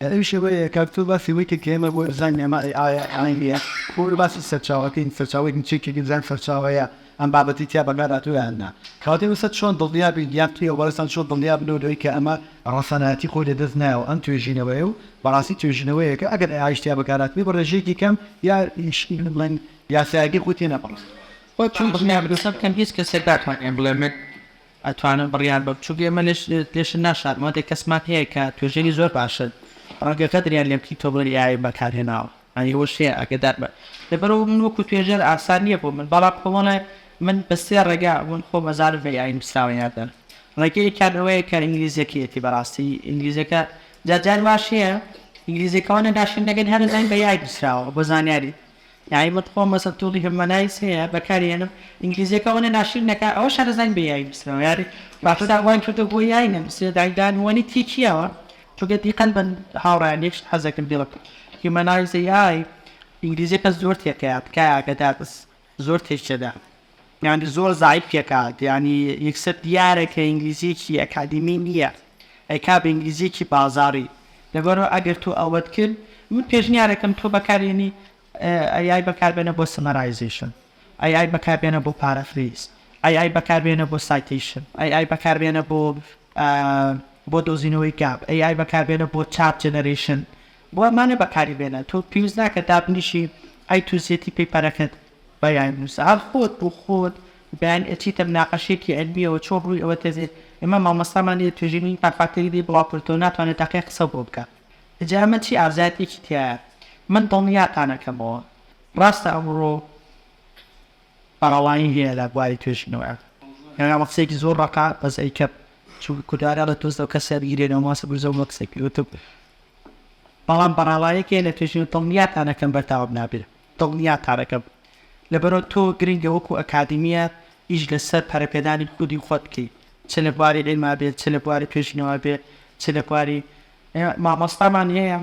ئەویش ئەوەیە کاک تۆ باسی ئەوەی کرد کە ئێمە بۆ دیزاین ئێمە ئەی ئایە ئەی ئێ ئەی بۆ باسی سەرچاوەکەین سەرچاوەی چێکی دیزاین سەرچاوەیە. ئەم بابەتەی تیا بەکار هاتووە یان نا. کەواتە ئێستا چۆن دڵنیا بین یان پێی وابەستە چۆن دڵنیا بن لەوەی کە ئەمە ڕەسەنایەتی خۆی لەدەست نایەوە ئەم توێژینەوەیە و بەڕاستی توێژینەوەیەکە ئەگەر ئەی ئایش تیا بەکار هاتبێ بە ڕێژەیەکی کەم یا بڵێن یاسایەکەی خۆی تێ نەپەڕاندووە؟ خۆت چۆن دڵنیا بی؟ قسە بکەم هیچ کەسێک ناتوانێ بڵێ من ئەتوانم بڕیار بەم چونکە ئێمە لێش لێشت ناشارمەوە دێ کەسمان هەیە کە توێژەری زۆر باشن ڕەنگە غەدریان لێ بکەی تۆ بڵێی ئێ ئای بەکار هێناوە. ئەی ئەوە شتێ ئاگەدار بە لەبەرئەوە من وەکو توێژەر ئاسان نیە بۆ من بەڵام کۆمەڵە من بە سێ ڕێگا من خۆم ئەزانم بە AI نوسراوە یان نە ڕێگەی یەکیان ئەوەیە کە ئینگلیزیەکەیەتی بەڕاستی ئینگلیزیەکە جا جار واش هەیە ئینگلیزیەکە وانە داشین دەگەن هەر ئەزانین بە AI نوسراوە بۆ زانیاری یاعی من خۆم مەسەن توڵی هەمەنایس هەیە بەکاری هێنم ئینگلیزیەکە وانە ناشین نەکا ئەوەش هەر ئەزانین بە AI نوسراوە یاری باشە داوای کردە بۆ AI نەنوسرێ دایندا نوانی تێکیەوە چونکە دیقەت بەن هاوڕێیان یەکشت حەزەکم بڵێم هیومەنایز ئەی ئای ئینگلیزیەکە زۆر تێکەیە تکایە ئەگەدارس زۆر تێکچەدە یانی زۆر زعیف یەکات یانی یەکسەر دیارە کە ئینگلیزیەکی ئەکادیمی نییە ئەیکا بە ئینگلیزیەکی بازاری لەبەرو ئەگەر تۆ ئەوەت کرد من پێشنیارەکەم تۆ بەکارێنی ئەی ئای بەکاربێنە بۆ سەمەرایزەیشن. ئەی ئای بەکاربێنە بۆ پارافریز ئەی ئای بەکاربێنە بۆ سایتەیشن ئەی ئای بەکاربێنە بۆ بۆ دۆزینەوەی گاپ ئەی ئای بەکاربێنە بۆ چاپ جەنەرەیشن بۆ ئەمانە بەکاری بێنە تۆ پێویست ناکە دابنیشی ئەی توزیەتی پەیپەرەکەت بەیان نووسە هەر خۆت بۆ خۆت بەیان ئەچیتە مناقەشێکی علمیەوە چۆن ڕووی ئەوە تێزێت ئێمە مامۆستامان لێ توێژینی پافاکتەری لێ بڵاو کردەوە ناتوانێت تاقیە قسە بۆ بکە جا ئەمە چی ئازایەتێکی تایە من دڵنیاتانەکەمەوە ڕاستە ئەمڕۆ بەڕەوایی هەیە لە بواری توێژینەوە، ئەمە قسەیەکی زۆر ڕەقە، بەس ئەیکەم، چونکە کوردەواری ئەڵێ تۆز لەو کەسە بیگرێ لەو ماسە برزە و مەکسە گرتم. بەڵام بەڕەوایەک هەیە لە توێژینەوە دڵنیاتان ئەکەم بەردەوام نابێت، دڵنیاتان ئەکەم. لەبەرئەوە تۆ گرنگە وەکوو ئەکادیمییە ئیش لەسەر پەرەپێدانی خودی خۆت بکەیت، چ لە بواری عیلما بێت، چ لە بواری توێژینەوە بێت، چ لە بواری مامۆستامان هەیە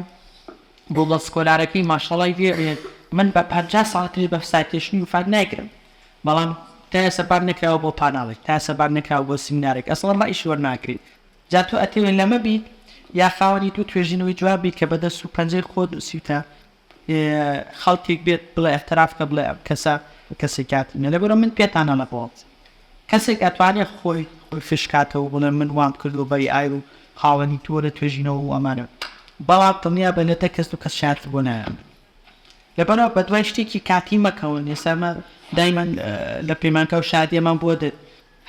گووگڵ سکۆلارەکەی ماشەڵای لێ بێت من بە پەنجا ساڵ تری بە سایتێشنی وفات نایکرم بەڵام تا ئێستا بانگ نەکراوە بۆ پاناڵێک تا ئێستا بانگ نەکراوە بۆ سیمینارێک ئەسڵەن ڕەئیشی وەرناگرین جا تۆ ئەتەوێ لەمە بیت یا خاوەنی دوو توێژینەوەی جوان بیت کە بە دەست و پەنجەی خۆت نووسیوتە خەڵکێک بێت بڵێ اعتراف کە بڵێ ئەم کەسە کەسی کاتی نیە لەبەرئەوە من پێتان ئەڵێم کەسێک ئەتوانێت خۆی خۆی فش کاتەوە بڵێ من وام کردوە بە ی ئای و خاوەنی تۆ لە توێژینەوە و ئەمانە بەڵام دڵنیا بە لە دە کەس دوو کەس شایەتی بۆ نایەنن لەبەرئەوە بە دوای شتێکی کاتی مەکەون ئێستا ئێمە دایمەن لە پەیمانگا و شادیەمان بۆ دێت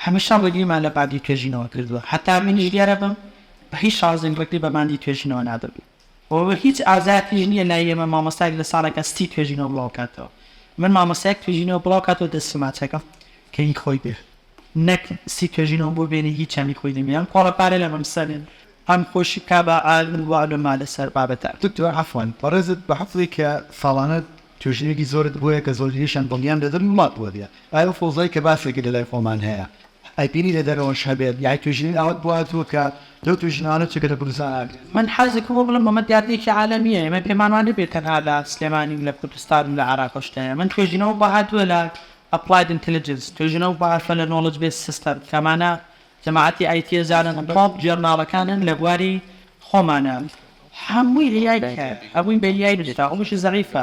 هەمیشە ڕێگریمان لە باندی توێژینەوە کردوە هەتا منیش لێرە بم بە هیچ شازێک ڕێگری بە باندی توێژینەوە نادەم. و هیچ ئازارتیش نیە لای ئێمە مامۆستایەک لە ساڵێکا سی توێژینەوە بڵاو کاتەوە من مامۆستایەک توێژینەوە بڵاو کاتەوە دەستی ماچەکەم کە هی خۆی بێ نەک سی توێژینەوە بۆ بێنێ هیچیان هی خۆی نەبێ ئەم کۆڵە پارە لە مەم سەرێ هەم خۆشی بکا بە عالم و عولما لەسەر بابەتان. دکتۆر عەفوەن بەڕێزت بە حەفڵی کە ساڵانە توشبویەکی زۆرت بویە کە زۆرینەیشیان دڵنیام لە دەرون وڵات بوەبیە ئای ئەو فەوزای کە باسێکی لە لای خۆمان هەیە ئەی بینی لە دەرەوەش هەبێت یای توشبوی ئاوت بواتوە کە لەو توشبوانە چ کە لە کوردستان ئاگرت من حەزی کردوە بڵێم ئەمە دیاردەیەکی عالەمیە ئێمە پێمان وا نەبێت تەنها لە سلێمانی و لە کوردستان و لە عێراقش هەیە من توێژینەوە بوە هاتوە لە ئەپڵاید ئینتلیجنس توێژینەوە بوە هاتوە لە نۆڵج بێس سیستەم کە ئەمانە جەماعەتی ئایتیە زانن تۆپ جۆرناڵەکانن لە بواری خۆمانە هەمووی AI ە هەمووی بە AI نوسراوە هەمووشی زەعیفە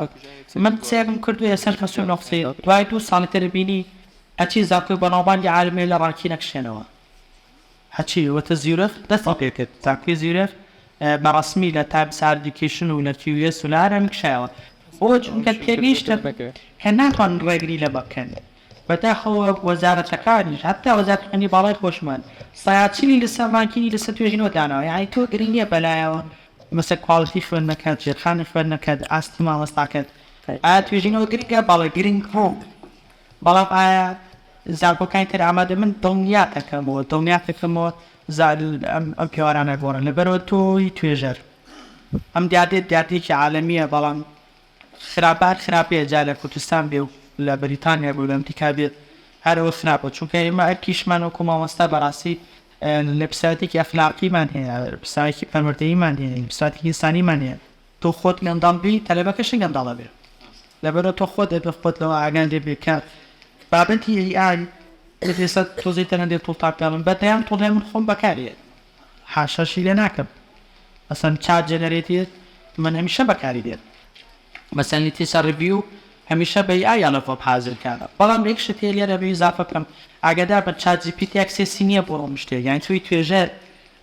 من قسەیەکم کردوە یەسەر خەست و نوقسەی دوای دوو ساڵی تر بینی هەرچی زانکۆی بەناوبانگی عالمیە لە ڕانکی نەکشێنەوە هەرچی وتە زیورخ دەستی پێ کرد زانکۆی زیورخ بە ڕەسمی لە تایمس ئاردیکەیشن و لە QS و لە هەرێم کشایەوە بۆ چونکە تێگەیشتن کە ناتوانن ڕێگری لەمە بکەن بەداخەوە وەزارەتەکانیش هەتا وەزارەتەکانی باڵای خۆشمان سایاچی لەسەر ماکینی لەسەر توێژینەوە داناوە یانی تۆ گرنگیە بەلایەوە مەسە کواڵیتی خوێندنەکەت ژێرخانی خوێندنەکەت ئاستی مامۆستاکەت ئایا توێژینەوە گرنگە بەڵێ گرنگ بۆ بەڵام ئایا زانکۆکانی تر ئامادە من دڵنیا دەکەمەوە دڵنیا دەکەمەوە ئەم پێوارانە گۆڕن لەبەرەوە تۆی توێژەر ئەم دیاردێت دیاردێکی عالمیە بەڵام خراپە هەر خراپەیە جا لە کوردستان بێ و لە بەریتانیا بێ و لە ئەمریکا بێ هەر ئەوە خراپە چونکە ئێمە ئەرکیشمان وەکو مامۆستا بەڕاستی لە پیسایەتێکی ئەخلاقیمان هەیە پیسایەکی پەروەردەیمان هەیە پیسایەتێکی ئینسانیمان هەیە تۆ خۆت گەندەڵ بی تەلەبەکەشی گەندەڵ ئەبێ لەبەرە تۆ خۆت ئەبێ خۆت لەوە ئاگا لێ بێ کە بابەتی ئەی ئای تۆزێ تەنە دێ توڵتان پێڵم بەدەیان توڵێ من خۆم بەکارێ حاشاشی لێ ناکەم مەسەن چات جێنەرێتیڤ من هەمیشە بەکاری دێت مەسەن لیتیسە ڕیڤیو هەمیشە بە ئای یانە خۆم حازر کارە بەڵام یەک شت هەیە لێرە بێ ئیزافە بکەم ئاگادار بن چات جی پی تی ئەکسێسی نییە بۆ ئەم شتێ یان تۆی توێژەر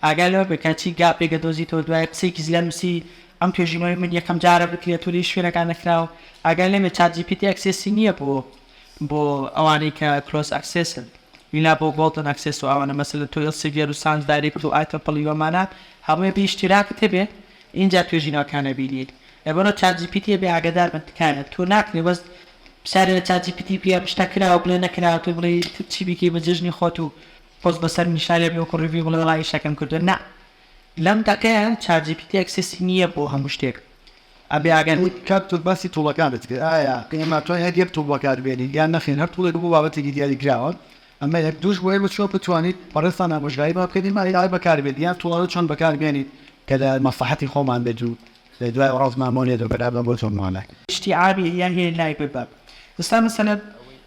ئاگا لەوە بێ کە چی گاپێک دەدۆزیتەوە دوای قسەیەکی زلە نووسی ئەم توێژینەوەی من یەکەم جارە بکرێت و لە هیچ شوێنێکا نەکراوە ئاگا لێ بێ چات جی پی تی ئەکسێسی نییە بۆ بۆ ئەوانەی کە کلۆز ئەکسێسن ئیلا بۆ گۆڵدن ئەکسێس و ئەوانە مەسەلەن تۆ ئیلسیڤیەر و سانس دایرێکت و ئای تەپڵی وەمانە هەمووی بە ئیشتیراکت هەبێ ئینجا توێژینەوەکان ئەبینیت لەبەرئەوە چات جی پی تی ئەبێ ئاگەدار بن تکایە تۆ ناکرێ بەس پسیارێ لە چات جی پی تی بکە شتە کراوە بڵێ نەکراوە تۆ بڵێ چی بیکەی بە جەژنی خۆت و پۆست بەسەر نیشارێ بێ وەکو ڕیڤیو بڵێ وەڵا ئیشەکەم کردوە نا لەم تاکەیە چات جی پی تی ئەکسێسی نییە بۆ هەموو شتێک ئەبێ ئەگەر کاک تۆ باسی توڵەکانت کرد ئایا ئێمە توانای هەر یەک توڵ بەکاربێنین یان نەخێر هەر توڵێک بۆ بابەتێکی دیاری کراوە ئەمە یەک دووش بۆ ئێمە چۆن بتوانیت بەڕێزتان ئامۆژگاری بابکەین ئێمە ئەی ئای بەکاربێنین یان توڵانە چۆن بەکاربێنین کە لە مەسڵەحەتی خۆمان بێت و لە دوای وەڵاز ما مۆنێ دۆ بەرا بە بۆ تۆ مۆنە. شتی عابی هیە هێ لای بە بە. ئستا مەسەلەن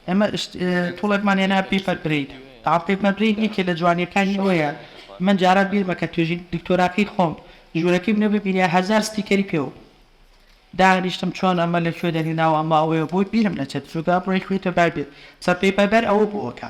ئێمە شت توڵێکمان هێنا پیپەر برین تاعم پیپەر برین یەکێ لە جوانیەکانی ئەوەیە من جاران بیرمە کە توێژی دکتۆراکەی خۆم ژورەکەی منە ببینیە هەزار ستیکەری پێوە دانیشتم چۆن ئەمە لە کوێ دەهێناوە ئەمە ئەوەیە بۆی بیرم نەچێت چونکە ئەمڕۆ یەکێتە بابێت سە پیپەبەر ئەوە بووە کە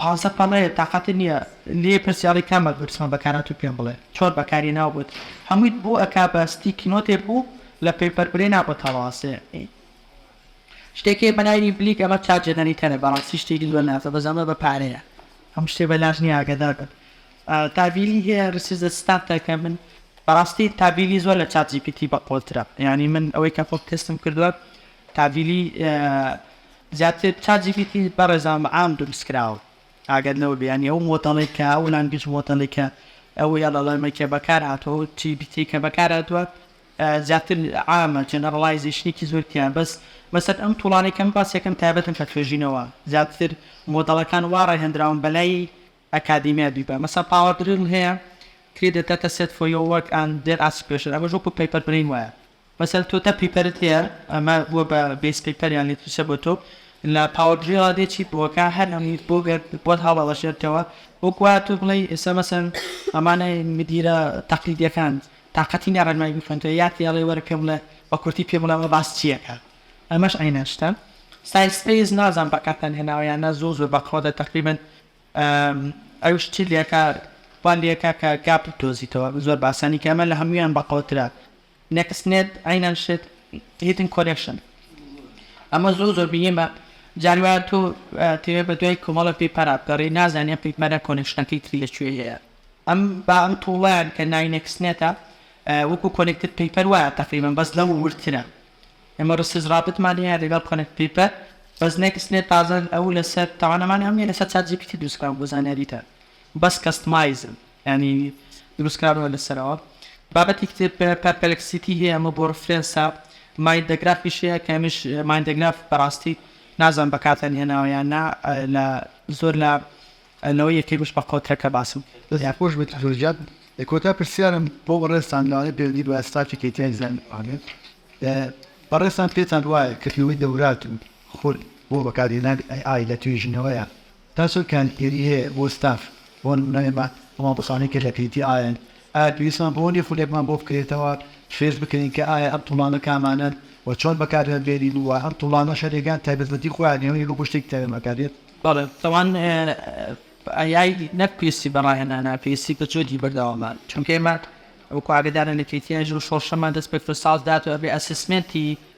پانزە پەڵەیە تاقەتت نیە لێی پرسیاڵی کام ئەلگۆریسمە بەکارهاتووی پێم بڵێ چۆن بەکاری ناوبت هەموویت بۆ ئەکا بە ستیکی نۆتێ بوو لە پەیپەر برێ نابت هەڵواسێ شتێک هەیە بەناوی بلیک ئەمە چات جەنەریتەرە بەڕاستی شتێکی زۆر ناسە بەس ئەمە بە پارەیە هەموو شتێ بەلاش نیە ئاگادار بن تابیلی هەیە ریسیزە ستاف تاکە من بەڕاستی تابیلی زۆر لە چات جی پی تی بەقۆڵترە یانی من ئەوەی کە خۆم تێستم کردووە تابیلی زیاتر چات جی پی تی بەڕێزان بە عام دروست کراوە ئاگات لەوە بێ یانی ئەو مۆدەڵەی کە ئەو لانگویج مۆدەڵی کە ئەو ئێڵ ئێڵ ئێمەی کە بەکار هاتووە ئەو جی پی تی کە بەکار هاتووە زیاتر عامە جێنەڕڵایزەیشنێکی زۆر تیایە بەس بەسەر ئەم توڵانەی کەم باس یەکەم تایبەتن بە توێژینەوە زیاتر مۆدەڵەکان وا ڕاهێندراون بە لای ئەکادیمیا بیبە مەسەن پاوەر دریڵ هەیە کری دەتاتە سێت فۆیۆ وەک ئان دێر ئاسپێشن ئەمەش وەکو پەیپەر برین وایە. مەسەلەن تۆ دە پیپەرت هەیە ئەمە بووە بە بێس پیپەر یان لیترچە بۆ تۆ لە پاوەر بی وا دێ چیت بۆ کە هەر ئەم بۆ گەر بۆت هەڵەڵەشێتەوە وەک وایە تۆ بڵێی ئێستا مەسەلەن ئەمانە مدیرە تەقلیدیەکان تاقەتی نیە ڕێنمایی بخوێنتەوە یان پێی ئەڵێی وەرە پێم بڵێ بە کورتی پێم بڵێ ئەمە باس چی ئەکات ئەمەش عەینەن شتە سایسپەیس نازانم بەکارتان هێناوە یان نا زۆر زۆر بەقوەتە تەقریبەن ئەو شتی لێکا وا لێکا کە گاپ بدۆزیتەوە زۆر بە ئاسانی کە ئەمە لە هەموویان بەقوەترە نێکست نێت عەینەن شت هیتن کۆلێکشن ئەمە زۆر زۆر مهیمە جار وایە تۆ تێوێ بە دوای کۆمەڵە پێپەرا بگەڕێی نازانی ئەم پێپەرە کۆلێکشنەکەی تری لە کوێ هەیە ئەم با ئەم توڵیان کە ناوی نێکست نێتە وەکو کۆلێکتد پێپەر وایە تەقریبا بەس لەو وردترە ئێمە ڕسیز ڕابتمان هەیە لەگەڵ کۆلێکت پێپەر بەس نێکست نێت تازە ئەو لەسەر تەوانەمانی ئەم لەسەر چات جی پی تی دروست کراوە بۆ زانیاریتان بەس کەستمایزن یانی دروست کراوە لەسەرەوە. بابەتێکی تر پەرپلکسیتی هەیە ئەمە بۆ ڕفرێنسە مایندەگرافیش هەیە کە ئەمیش مایندەگراف بەڕاستی نازانم بەکارتان هێناوە یان نا لە زۆر لە لەوەی یەکەی بش بە قۆترەکە باسم کرد. دەست خۆش بێت زۆر گیان لە کۆتا پرسیارم بۆ بەڕێزتان لەوانەیە پەیوەندی بە ستافی کەی تی ئای زانین بمانێت بەڕێزتان پێتان وایە کردنەوەی دەورات و خول بۆ بەکارهێنانی ئەی ئای لە توێژینەوەیە تا چەند کاریگەری هەیە بۆ ستاف بۆ نمونە ئێمە هەمان کەسانەی کە لە پیتی ئایەن ئایا پێویستمان بەوە نیە خولێکمان بۆ بکرێتەوە فێرز بکەین کە ئایا ئەم توڵانە کامانەن و چۆن بەکاریان بێنین و ئەم توڵانەش هەریەکە تایبەتمەندی خۆیان هەیە و یەک بۆ شتێکی تایبەت بەکاردێت. بەڵێ تاوان ئەیای نەک پێویستی بە ڕاهێنانە پێویستی بە جۆدی بەردەوامە چونکە ئێمە وەکو ئاگەدارن لە پیتی ئایەن ژۆ شۆڕشەمان دەست پێکردو ساڵ داات و ئەبێ ئەسسمێنتی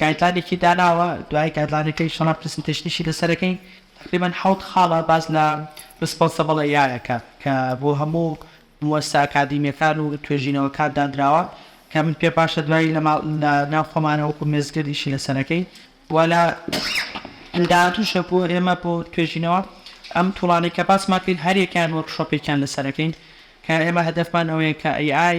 گایدلاینێکی داناوە دوای گایدلاینەکەی شەڕە پرسنتەیشنیشی لەسەرەکەی تەقریبەن حەوت خاڵە باس لە ڕسپۆنسەبڵ ئەی ئای ئەکا کە بۆ هەموو موەسسە ئەکادیمیەکان و توێژینەوەکان دانراوە کە من پێم باشە دوای لە ماڵ لە ناو خۆمانە وەکو مێزگرد ئیشی لەسەرەکەی و لە داهاتووشە بۆ ئێمە بۆ توێژینەوە ئەم توڵانەی کە باسمان کرد هەر یەکەیان وۆرکشۆپێکیان لەسەرەکەین کە ئێمە هەدەفمان ئەوەیە کە ئەی ئای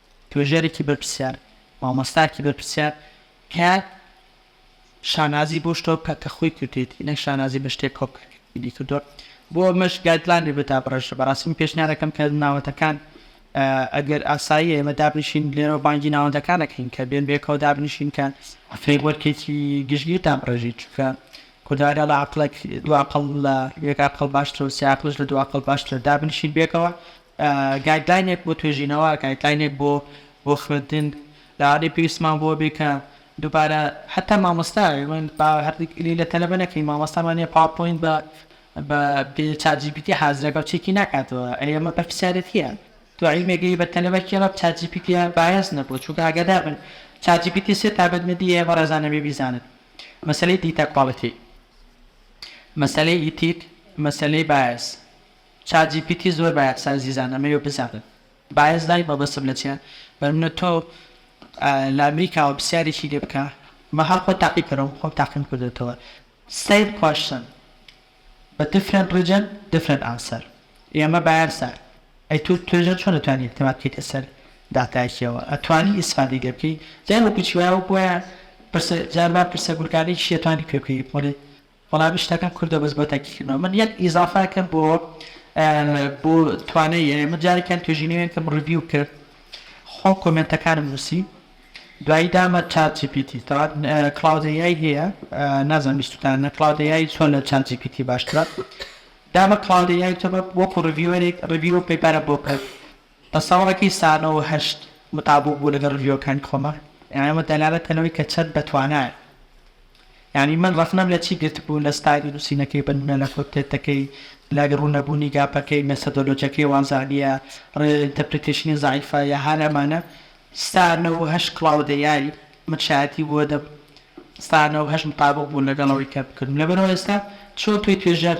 توێژەرێکی بەرپرسیار، مامۆستایەکی بەرپرسیار کە شانازی بەو شتەوە بکات کە خۆی کردوویەتی نەک شانازی بە شتێک کۆپکردنی کردووە، بۆ ئەمەش گایدلاینێک بۆ دابڕێژرێت، بەڕاستی من پێشنیار دەکەم کە ناوەندەکان ئەگەر ئاساییە ئێمە دابنیشین لێرەوە بانگی ناوەندەکان دەکەین کە بێن بەیەکەوە دابنیشین کە فرەیموەرکێکی گشتگیر دابڕێژین چونکە کوردەواری دەڵێ عەقڵێک دوو عەقڵ لە یەک عەقڵ باشترە و سێ عەقڵیش لە دوو عەقڵ باشترە دابنیشین بەیەکەوە گایدلاینێک بۆ توێژینەوە، گایدلاینێک بۆ بۆ خوێندن لەوانەیە پێویستمان بۆ بێ کە دووبارە حەتا مامۆستا من با هەردەک ئلی لە تەلەبە نەکەین مامۆستامان نیە پاوەپۆینت بە بە بێ چات جی پی تی حازرە بە چێکی ناکاتەوە ئەی ئەمە بەرپرسیارەتیە تو عیلمێگەی بە تەلەبە کێ بە چات جی پی تی بایەس نەبوو چونکە ئاگادار بن چات جی پی تی سێ تابەت نەدی ئێ بەڕێزان نەبێ بیزانن مەسەلەی دیتا کواڵیتی مەسەلەی ئیتیک مەسەلەی بایەس چات جی پی تی زۆر بایەخسە ئەزیزان ئەمەوێ بزانن بایەس دای مەبەستم لە چیە بە منە تۆ لە ئەمریکاوە پسیارێکی لێ بکە مەحاڵ خۆت تاقی کەرەوە من خۆم تاقیم کردۆتەوە سەیم کوەشن بە دفرێنت ڕیجن دفرێنت ئانسەر ئێمە بایەسە ئەی تۆ توێژەر چۆن ئەتوانی ئیعتماد بکەیت لەسەر داتایەکیەوە ئەتوانی ئیسفادەی لێ بکەی جا وەکو چی وایە وەکو وایە پرسە جار وا پرسە گورگانەی چیە توانی پێ بکەی بڵێ وەڵا بشتەکەم کردوە بەس بۆ تاقی کردنەوە من یەک ئیزافە کەم بۆ بۆ توانە یە من جارێکیان توێژینەوەێن کەم ڕڤیو کرد خۆ کۆمنتەکانم نووسی دوایی دامە چات جیپیتی تا کلااودەیای هەیە نازان بیستان نە کلااودەیای چۆن لە چات جیپیتی باشترە دامە کلااودەیای تەبە وەکو ڕڤیوەرێک ڕڤیو پێپارە بۆ کرد بە ساڵێکی سانە و هەشت متابوو بوو لەگەڵ ڤیۆکانی خۆما یانی ئەمە دەلالەتە لەوەی کە چەند بە توانایە یانی من ڕەخنەم لە چی گرتبوو لە ستایلی نوسینەکەی بە نمونە لە کۆتێتەکەی لە ڕونەبونی گاپەکەی مێسەدۆلۆجەکەی وازانیە ڕێ ئینتەپریتەیشنی زەعیفە یا هەر ئەمانە سانە و هەشت کڵاودە یاری من شایەتی بووە دەم سانە و هەشت متابوو بوو لەگەڵەوەی کە بکردم لەبەرەوە ئێستا چۆن تۆی توێژەر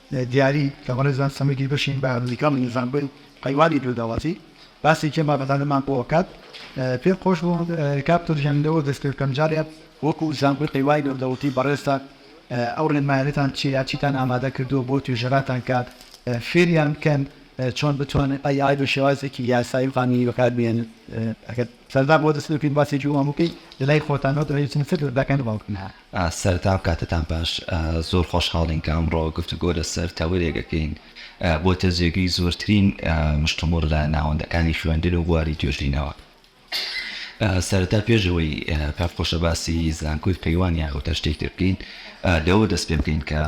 دیاری کە بەڕێزان سەمەدی بەشین بە نزیکان لە زانکۆی قەیوانی گردەوازی باسێکی مامەتانەمان بۆ ئەکات پێم خۆش بوو کاپتر گیان لەوە دەست پێ بکەم جارێ وەکو زانکۆی قەیوانی گردەوتی بەڕێزتان ئەو ڕێنمایانەتان چیە یا چیتان ئامادە کردووە بۆ توێژەراتان کە فێریان بکەن چۆن بتوانن ئەی ئای بە شێوازێکی یاسایی و قانونی بەکار بێنن ئەگەر سەردان بۆ دەست پێ بکەین باسێکی وام بکەی لەلای خۆتانەوە دەوێت چەند سەر دەکەن بەڵکن هەر سەرتان بکاتەتان باش زۆر خۆشحاڵین کە ئەمڕۆ گفتوگۆ لەسەر تەوەرێک ئەکەین بۆتە جێگەی زۆرترین مشتومڕ لە ناوەندەکانی خوێندن و بواری توێژینەوە سەرەتا پێش ئەوەی کاک خۆشە باسی زانکۆی قەیوان یان ئەوتا شتێک تر بکەین لەوە دەست پێ بکەین کە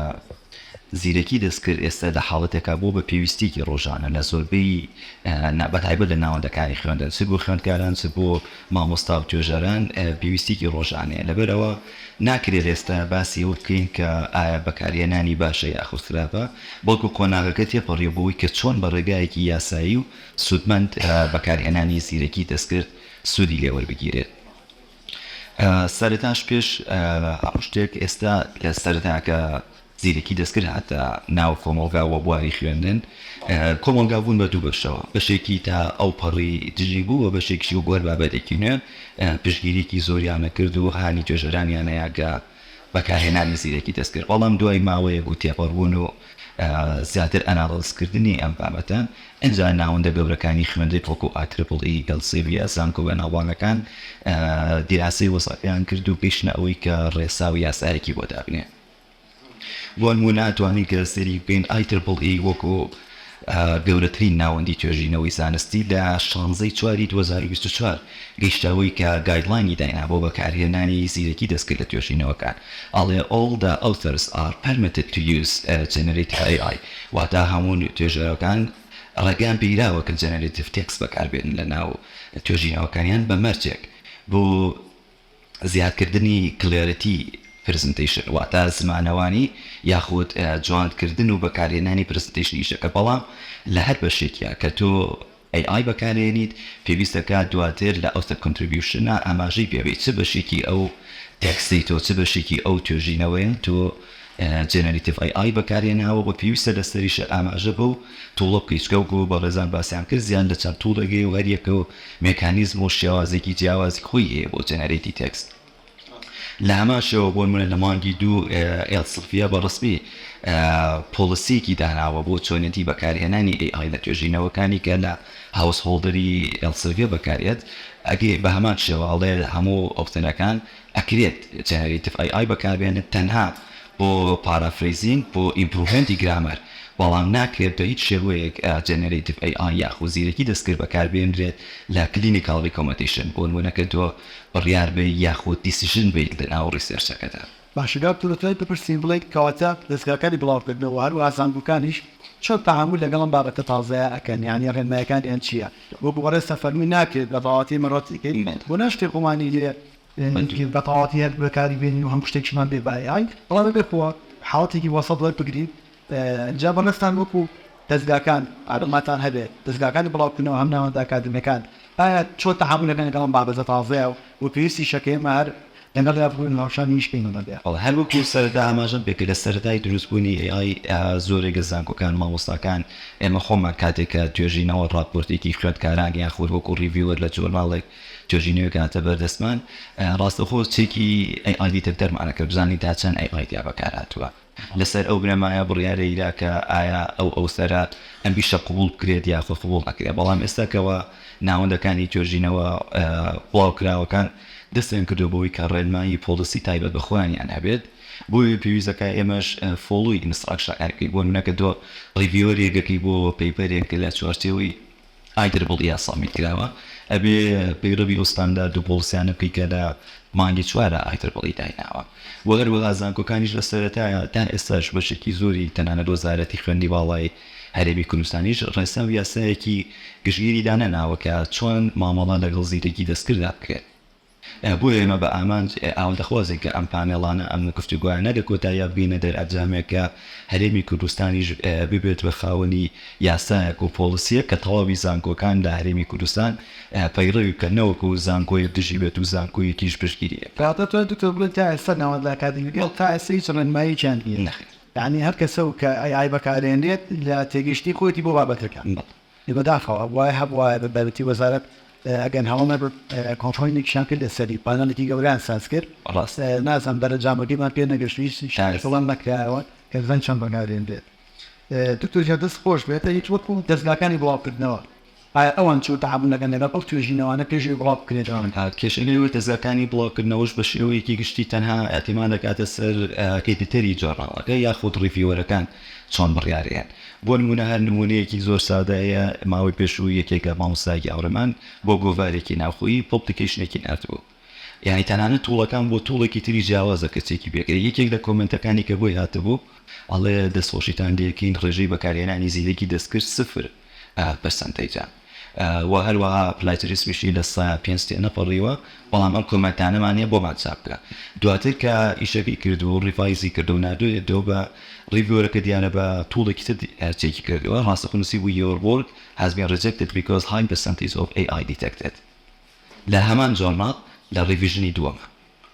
زیرەکی دەستکرد ئێستا لە حاڵەتێکا بۆ بە پێویستیکی ڕۆژانە لە زۆربەی بەتایبەت لە ناوەندەکانی خوێندن چ بۆ خوێندکاران چ بۆ مامۆستا و توێژەران پێویستیەکی ڕۆژانەیە لەبەرئەوە ناکرێت ئێستا باسی ئەوە بکەین کە ئایا بەکارهێنانی باشە یاخود خراپە بەڵکو قۆناغەکە تێپەڕیوە بۆ ئەوەی کە چۆن بە ڕێگایەکی یاسایی و سودمەند بەکارهێنانی زیرەکی دەستکرد سودی لێوەربگیرێت سەرەتاش پێش هەموو شتێک ئێستا لە سەرەتاکە زیرەکی دەستکرد هاتە ناو کۆمەڵگا و بواری خوێندن کۆمەڵگا بوون بە دوو بەشەوە، بەشێکی تا ئەوپەڕی دژی بوو و بەشێکیشی وەک هەر بابەتێکی نوێ پشتگیریی زۆریان ئەکرد و هانی توێژەرانیان ئەیاگە بەکارهێنانی زیرەکی دەستکرد، بەڵام دوای ماوەیەک و تێپەڕبوون و زیاتر ئەناڵێزکردنی ئەم بابەتە، ئینجا ناوەندە گەورەکانی خوێندن وەکوو ئا ترپڵ ئی، ئێلسێڤیە، زانکۆ بەناوبانگەکان دیراسەی وەزعیان کرد و گەیشتنە ئەوەی کە ڕێسا و یاسایەکی بۆ دابنێن. بۆنموونە ئەتوانین سەیری بکەین ئای ترپڵ ئی وەکو گەورەترین ناوەندی توێژینەوەی زانستی لە شانزەی چواری دوو هەزار و بیست و چوار گەیشتەوەی کە گایدلاینی داینا بۆ بەکارهێنانی زیرەکی دەستکرد لە توێژینەوەکان ئەڵێ All the authors are permitted to use generative AI واتا هەموو توێژەرەکان ڕێگەیان پێیراوە کە جەنەرەتیڤ تێکست بەکاربێنن لەناو توێژینەوەکانیان بە مەرجێک بۆ زیادکردنی کلێرتی پرزنتەیشن واتە زمانەوانی یاخود جواندکردن و بەکارهێنانی پرزنتەیشنی ئیشەکە بەڵام لە هەر بەشێکیا کە تۆ ئەی ئای بەکارهێنیت پێویستە کە دواتر لە ئەو سەر کۆنتریبیوشنە ئاماژەی پێبەیت چ بەشێکی ئەو تێکستەی تۆ چ بەشێکی ئەو توێژینەوەیە تۆ جێنەریتیڤ ئەی ئای بەکارهێناوە و پێویستە لەسەریشە ئاماژە بەو تووڵە بکەیت چکە وەکو بەڕێزان باسیان کرد زیاد لە چەند تووڵێک هەیە و هەریەکە و مێکانیزم و شێوازێکی جیاوازی خۆی هەیە بۆ جێنەرەیتی تێکست لە هەمان شێوە بۆ نموونە لە مانگی دوو ێەڵ سڵفیە بە ڕسمی پۆڵسیەکی داناوە بۆ چۆنێتی بەکارهێنانی ئەی ئای لە توێژینەوەکانی کە لە هاوس هۆڵدەری ێەڵ سڵڤیە بەکارێت ئەگەر بە هەمان شێوە ئەڵێ هەموو ئۆپتنەکان ئەکرێت جەنەرەیتڤ ئەی ئای بەکاربێنن تەنها بۆ پارافرەیزینگ بۆ ئیمپروڤمێنتی گرامەر بەڵام ناکرێت بە هیچ شێوەیەک جەنەرەیتڤ ئەی ئای یاخود زیرەکی دەستکرد بەکاربێنرێت لە کلینیکاڵ ڕیکۆمەدیشن بۆ نموونە کە تۆ بڕیار بەیت یاخود دیسیژن بەیت لەناو ڕیسێرچەکەدا. باشە دکتۆر دەتوانیت بپرسین بڵێیت کەواتە دەزگاکانی بڵاوکردنەوە هەروەها زانکۆکانیش چۆن تەعامول لەگەڵ ئەم بابەتە تازەیە ئەکەن یانی ڕێنمایەکانیان چییە وەکو بەڕێزتان فەرموو ناکرێت بە ڕاوەتی مەڕەتیکەی بۆ ناشتێ خۆمانی لێ نەیتوێت بە تەواوەتی هەر بەکاری بێنین و هەموو شتێکیشمان بێ بایەعی، بەڵام ئەگەر خۆ حاڵەتێکی وەسەت وەربگرین جا بەڕێزتان وەکو دەزگاکان ئاماژەتان هەبێت دەزگاکانی بڵاوکردنەوە هەم ناوەندە ئەکادیمیەکان ئایا چۆن تەعامول ئەکەن لەگەڵ ئەم بابەتە تازەیە و پێویستیشە کە ئێمە هەر لەگەڵیا بڕۆین و هاوشانی ئیش بکەین لەگەڵیا؟ بەڵێ هەر وەکو سەرەتا ئاماژەم پێکرد لە سەرەتای دروست بوونی AI زۆرێک لە زانکۆکان مامۆستاکان ئێمە خۆمان کاتێک کە توێژینەوە ڕاپۆرتێکی خوێندکاران یاخود وەکو ڕیڤیوەر لە جۆرناڵێک توێژی نوێ کاتە بەر دەستمان. ڕاستەوخۆ چەکی ئەی ئای دیتەکتەر مانە کە بزانین تا چەند ئەی ئای تیا بەکار هاتووە. لە سەر ئەو بنەمایە بڕیارێک دا کە ئایا ئەو ئەوسەرە ئەم ئیشە قبووڵ بکرێت یاخود قبووڵ نەکرێت. بەڵام ئێستا کەوا ناوەندەکانی توێژینەوە بڵاو کراوەکان دەستیان کردووە بەوەی کە ڕێنمایی پۆڵسی تایبەت بە خۆیانیان هەبێت بۆیە پێویست دەکات ئێمەش فۆڵوی ئینستڕاکشنەکان بکەین. بۆ نموونە کە تۆ ڕیڤیوەرێک ئەکەی بۆ پەیپەرێک لە چوارچێوەی ئای ترپڵ ئیە سابمیت کراوە ئەبێ پەیڕەوی ئەو ستاندارد و پۆڵسیانە بکەی کە لە مانگی چوارا ئای ترپڵ ئی دایناوە وە هەروەها زانکۆکانیش لە سەرەتایا تا ئێستاش بەشێکی زۆری تەنانەت وەزارەتی خوێندنی باڵای هەرێمی کوردستانیش ڕێسا و یاسایەکی گشتگیری دانەناوە کە چۆن مامەڵە لەگەڵ زیرەکی دەستکرددا بکرێت. بۆیە ئێمە بە ئامانج ئاواتەخوازین کە ئەم پانێڵانە، ئەم گفتوگۆیانە لە کۆتاییا بگەینە دەرئەنجامێک کە هەرێمی کوردستانیش ببێت بە خاوەنی یاسایەک و پۆڵسییەک کە تەواوی زانکۆکان لە هەرێمی کوردستان پەیڕەوی بکەن نەوەکو زانکۆیەک دژی بێت و زانکۆیەکیش پشتگیری لێ بکات. کاتە تۆ دکتۆر بڵێی تا ئێستا ناوەندە ئەکادیمیەکان تا ئێستا هیچ ڕێنماییەکیان نییە؟ نەخێر. یانی هەر کەسەو کە ئەی ئای بەکارێنرێت لە تێگەیشتنی خۆیەتی بۆ بابەتەکە. بەڵێ. لە بەداخەوە وای هەبوایە بە بایەتی وەزارەت ئەگەن هەڵەمە بێت کۆنفرەینێکیشان کرد لەسەری پانەڵێکی گەورەیان ساز کرد ڕاست نازانم دەرەجامەکەیمان پێ نەگەشت هیچ شایەت بڵاو نەکرایەوە کە بزانین چۆن بەکارێنرێت دکتۆر گیان دەست خۆش بێت ئەی هیچ وەکو دەزگاکانی بڵاوکردنەوە ئایا ئەوان چۆن تەعامول دەکەن لەگەڵ ئەو توێژینەوانە پێش ئەوەی بڵاو بکرێت کێشەی ئەوەی دەزگاکانی بڵاوکردنەوەش بە شێوەیەکی گشتی تەنها ئیعتیماد دەکاتە سەر ئێدیتەری جۆرناڵەکە یاخود ڕیڤیوەرەکان چۆن بڕیارەیەن؟ بۆ نموونە هەر نموونەیەکی زۆر سادە هەیە، ماوەی پێشوو یەکێک لە مامۆستایەکی هاوڕێمان بۆ گۆڤارێکی ناوخۆیی پۆپلیکەیشنێکی ناردبوو، یانی تەنانەت تووڵەکان بۆ تووڵێکی تری جیاوازە کە چێکی پێکرێ، یەکێک لە کۆمێنتەکانی کە بۆی هاتبوو ئەڵێ، دەستخۆشیتان لێ کەین، ڕێژەی بەکارهێنانی زیرەکی دەستکرد سفر. پەرسەنتەیجە و هەروەها پلاتریسمیشی لە سەدا پێنج تێنەپەڕیوە، بەڵام ئەم کۆمێنتانەمان نیە بۆمان چاپ بکە دواتر کە ئیشەکەی کرد و ڕیڤایزی کردوە ناردۆیەتەوە بە ڕیڤیۆرەکە دیارە بە توڵێکی تر چێکی کردوە ڕاستەخۆ نوسیبوی یۆر وۆرک هاز بین ڕیجێکتێد بیکۆز های پەرسەنتەیج ئۆف ئەی ئای دیتێکتێد لە هەمان جۆرناڵ لە ڕیڤیژنی دووەم.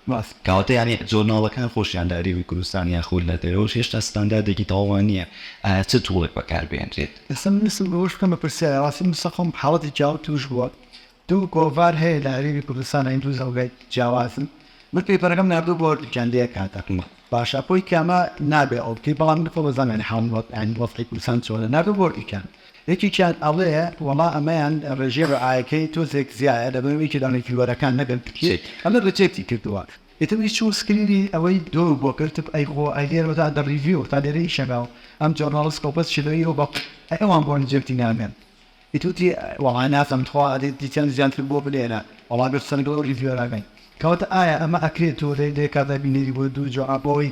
بەس کەواتە یانی جۆرناڵەکان خۆشیان لە هەرێمی کوردستان یان خۆ لە دەرەوەش هێشتا ستانداردێکی تەواومان نییە ئایا چ توڵێک بەکار بهێنرێت؟ ئێستا ویستم ئەوەش بکەم بە پرسیار ڕاستی موستەفام حاڵەتی جیاوازی تووش بووە دوو گۆڤار هەیە لە هەرێمی کوردستان هەین دوو زەوگای جیاوازن من پەیپەرەکەم ناردووە بۆ هەردووکیان لە یەک کاتە باشە بۆی کامە نابێ ئەو بکەی بەڵام من خۆ بەزانم یانی حاڵ وەزعی کوردستان چۆنە ناردووە بۆ هەردووکیان یەکێکیان ئەڵێ وەڵا ئەمەیان ڕێژەی ڕعایەکەی تۆزێک زیایە لەبەر ئەوەی کە لە ڕیڤیوەرەکان نەگەن تکیەی ئەمە ڕیجێکتی کردووە ئیتر وی چوو سکرینی ئەوەی دور بۆ کرد ئەی خۆ ئەی لێرە تا دە ڕیڤیو تا لێرە ئیشەکە و ئەم جۆرناڵس کۆپەس شێلۆی ئەو بەق ئەی ئەوان بۆ ڕیجێکتی ناکەن ئیتر وتی وەڵا نازانم تخوا ئەدی دیتیان زیاتر بۆ بنێرە وەڵا گەر قسە لەگەڵ ئەو ڕیڤیوەرە کەین کەواتە ئایا ئەمە ئەکرێت تۆ لێ لێ کات دابینێری بۆ دوو جۆرا بۆ ئەوەی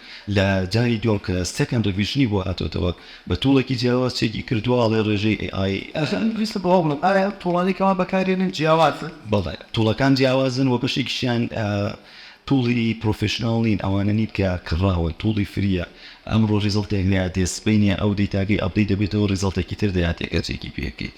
لە جاری دووەم کە سێکەند ڕیڤیژنی بۆ هاتۆتەوە بە توڵێکی جیاواز چێکی کردووە ئەڵێ ڕێژەی ئەی ئای. ئەخەر من ویستم ئەوە بڵێم ئایا ئەم توڵانەی کە ئەوان بەکاریێنن جیاوازن؟ بەڵێ توڵەکان جیاوازن وە بەشێکیشیان توڵی پڕۆفێشناڵ نین ئەوانە نین کە کڕاون توڵی فریە ئەمڕۆ ڕیزڵتێک لێیادێ سبەینێ ئەو دەیتاگەی ئەپدەیت دەبێتەوە ڕیزڵتێکی تر دەیاتێ گەر چێکی پێ بکەیت.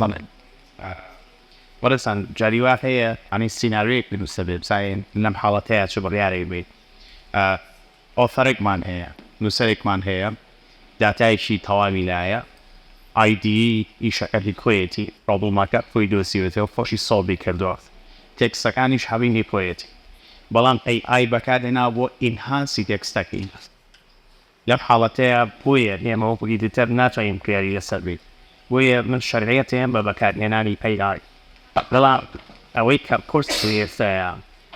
بەڵێ بەڕێزان جاری وا هەیە ئەنی سیناریۆیەک بنووسە بێ بزانین لەم حاڵەتەیە چ بڕیارێک بێت ئۆفەرێکمان هەیە نووسەرێکمان هەیە داتایشی تەواوی لایە ئایدی ئیشەکەی خۆیەتی ڕۆبڵمەکە خۆی دۆسیوێتەوە خۆشی سۆڵبی کردووە تێکسەکانیش هەمینی خۆیەتی بەڵام ئەی ئای بەکارهێنا بۆ ئینهانسی تێکستەکەی لەم حاڵەتەیا بۆیە ئێمە وەکو ئیدیتەر ناتوانین بڕیاری لەسەر بین، بۆیە من شەرعیەت هەیەم بە بەکارهێنانی ئەی ئای، بەڵام ئەوەی کە قورسە ئێستایا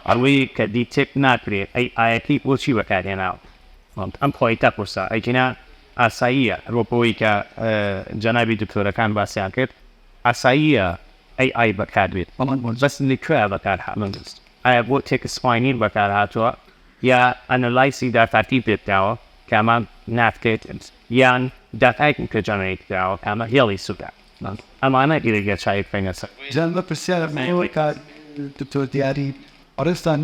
ئەوەیە کە دیتێکت ناکرێت ئەی ئایەکەی بۆچی بەکارهێناوە، ئەم پۆینتە قورسە، ئەگینا ئاساییە وەکو ئەوەی کە جەنابی دکتۆرەکان باسیان کرد ئاساییە ئەی ئای بەکاربێت، بەڵام بەس لە کوێیا بەکارهاتوە، ئایا بۆ تێکست ماینیر بەکارهاتوە؟ یا ئەنالایسی داتاکی پێکراوە کە ئەمە ناتکێت یان داتایەکی کە جەنەرەیت کراوە کە ئەمە هێڵی سوکە ئەمانە گرێ گێچای بکەینە سەر. جا من پرسیارم هەیە کاک دکتۆر دیاری بەڕێزتان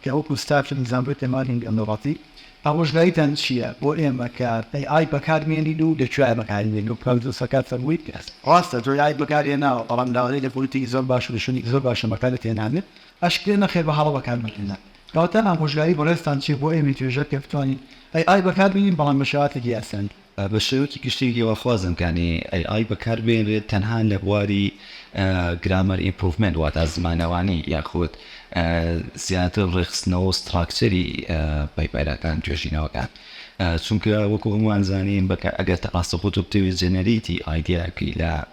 کە وەکو ستافی زانکۆی پەیمانی گەندەڵاتی ئامۆژگاریتان چییە بۆ ئێمە کە ئەی ئای بەکار بێنین و لە کوێ بەکاری بێنین وەک کاک دکتۆر سەرکار فەرمووی ڕاستە تۆ ئای بەکار هێناوە بەڵام لاوانی لە پۆلی تری زۆر باشە لە شوێنێکی زۆر باشە بەکارت هێناوێت ئەشکرێ نەخێر بە هەڵە بەکاربەهێنان کەواتە ئامۆژگاری بەڕێزتان چیە بۆ ئێمەی توێژەر کە بتوانین AI بەکار بێنین بەڵام بە شێواتێکی ئاسان؟ بە شێوەکی گشتی هیواخوازم کە AI بەکار بهێنرێت تەنها لە بواری Grammar Improvement واتە زمانەوانی یاخود زیاتر ڕێکخستنەوە و ستراکچەری پەیپەرەکان توێژینەوەکان چونکە وەکو هەمووان زانین ئەگەر تە ڕاستەخۆ تۆ بتەوێت جەنەرەیتی ئایدیایەک لە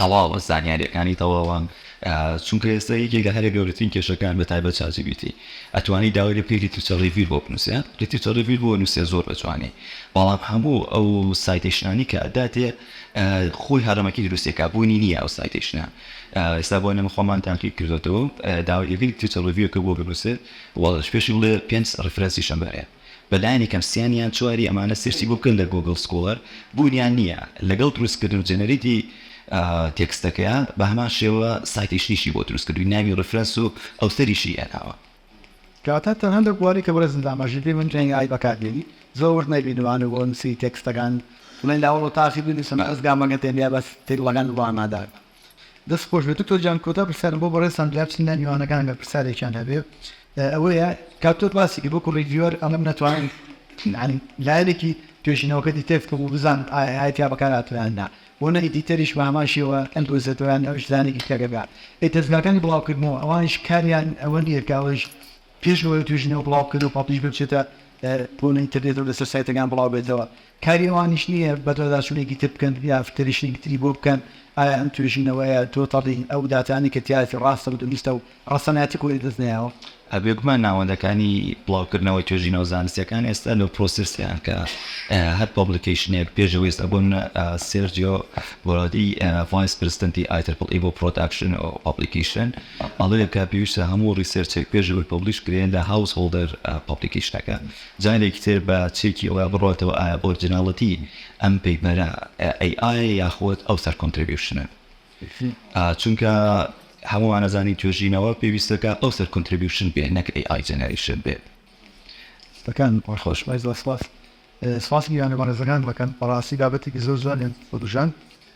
تەواوە زانیاریەکانی تەواوە چونکە ئێستا یەکێک لە هەرە گەورەترین کێشەکان بە تایبەت چات جی پی تی ئەتوانی داوای لێ بکەی لیترچە ڕیڤیر بۆ بنووسێ لیترچە ڕیڤیر بۆ نووسێ زۆر بە جوانی بەڵام هەموو ئەو سایتەیشنانی کە ئەداتێ خۆی هەرەمەکی دروستێکا بوونی نییە ئەو سایتەیشنە ئێستا بۆ نەمە خۆمان تاقی کردێتەوە داوای لێ بکەی لیترچە ڕیڤیرکە بۆ بنووسێ وەڵش پێشی بڵێ پێنج ڕیفرەنسی شەمبەرەیە بە لایەنی کەم سیان یان چواری ئەمانە سێرچی بۆ بکەن لە گۆگڵ سکۆڵەر بوونیان نییە لەگەڵ دروست کردن و جەنەریتی تێکستەکەیا بە هەمان شێوە سایتەیشنیشی بۆ دروست کردووین ناوی ڕیفرەنس و ئەوتەریشی هێناوە. کەواتە تەنها لەو بوارەی کە بەڕێزم داماژی کرد من ئەی ئای بەکار دێنی زۆر وشت نەبینیوە لە بۆ نووسینی تێکستەکان بڵێن لە هەوڵ و تاقی بنووسم ئەزگا مەگەر تێنیا بەس تێکڵەکان بۆ ئامادە بکەم. دەست خۆش بێت دکتۆر گیان کۆتا پرسیارم بۆ بەڕێزتان جار چین لای میوانەکان ئەگەر پرسیارێکیان هەبێ ئەوەیە کە تۆ باسی کرد وەکو ڕیڤیوەر ئەمەم نەتوانی یعنی لایەنێکی توێژینەوەکە دیتێکت بکەم و بزانم ئایا ئایا تیا بەکار هاتووە یان نا بۆ نە ئیدیتەریش بە هەمان شێوە ئەندۆزێتەوە یان ئەویش زانێکی تێگە بێ ئەی دەزگاکانی بڵاوکردنەوە ئەوانیش کاریان ئەوە نییە کە ئەوەیش پێش لەوەی توێژینەوە بڵاو بکەن و پاپیش بچێتە بۆ لە ئینتەرنێتەوە لەسەر سایتەکان بڵاو بێتەوە کاری ئەوانیش نییە بەدواداچوونێکی تر بکەن یا فکرەیشێکی تری بۆ بکەن، ئایا ئەم توێژینەوەیە تۆتەڵی ئەو داتانەی کە تیایەتی ڕاستە و دروستە و ڕەسەنایەتی خۆی لەدەست نەیاوە؟ بێگومان ناوەندەکانی بڵاوکردنەوەی توێژینەوە زانستییەکان ئێستا لە پرۆسێسدان کە هەر پۆبلیکەیشنێک پێش ئەوەی ئێستا بۆ نمونە سێرجیۆ بۆرادی ڤایس پرسدنتی ئای ترپڵ ئی بۆ پرۆداکشن و پۆبلیکەیشن ئەڵێ کە پێویستە هەموو ڕیسێرچێک پێش ئەوەی پۆبلیش کرێ لە هاوس هۆڵدەر پۆبلیکەیشنەکە جارێکی تر بە چێکی ئەوە بڕۆتەوە ئایا ئۆرجیناڵیتی ئەم پەیپەرە ئەی ئایە یاخود ئەو سەر کۆنتربیوشنە چونکە هەمووان ئەزانین توێژینەوە پێویستەکە ئەو سەر کۆنتربیوشن بێ نەک ئەی ئای جەنەریشن بێت دەکان خۆش بای زۆر سپاس سپاس گیرانە بەڕێزەکان دەکەن بەڕاستی بابەتێکی زۆر جوانیان بەدوژان.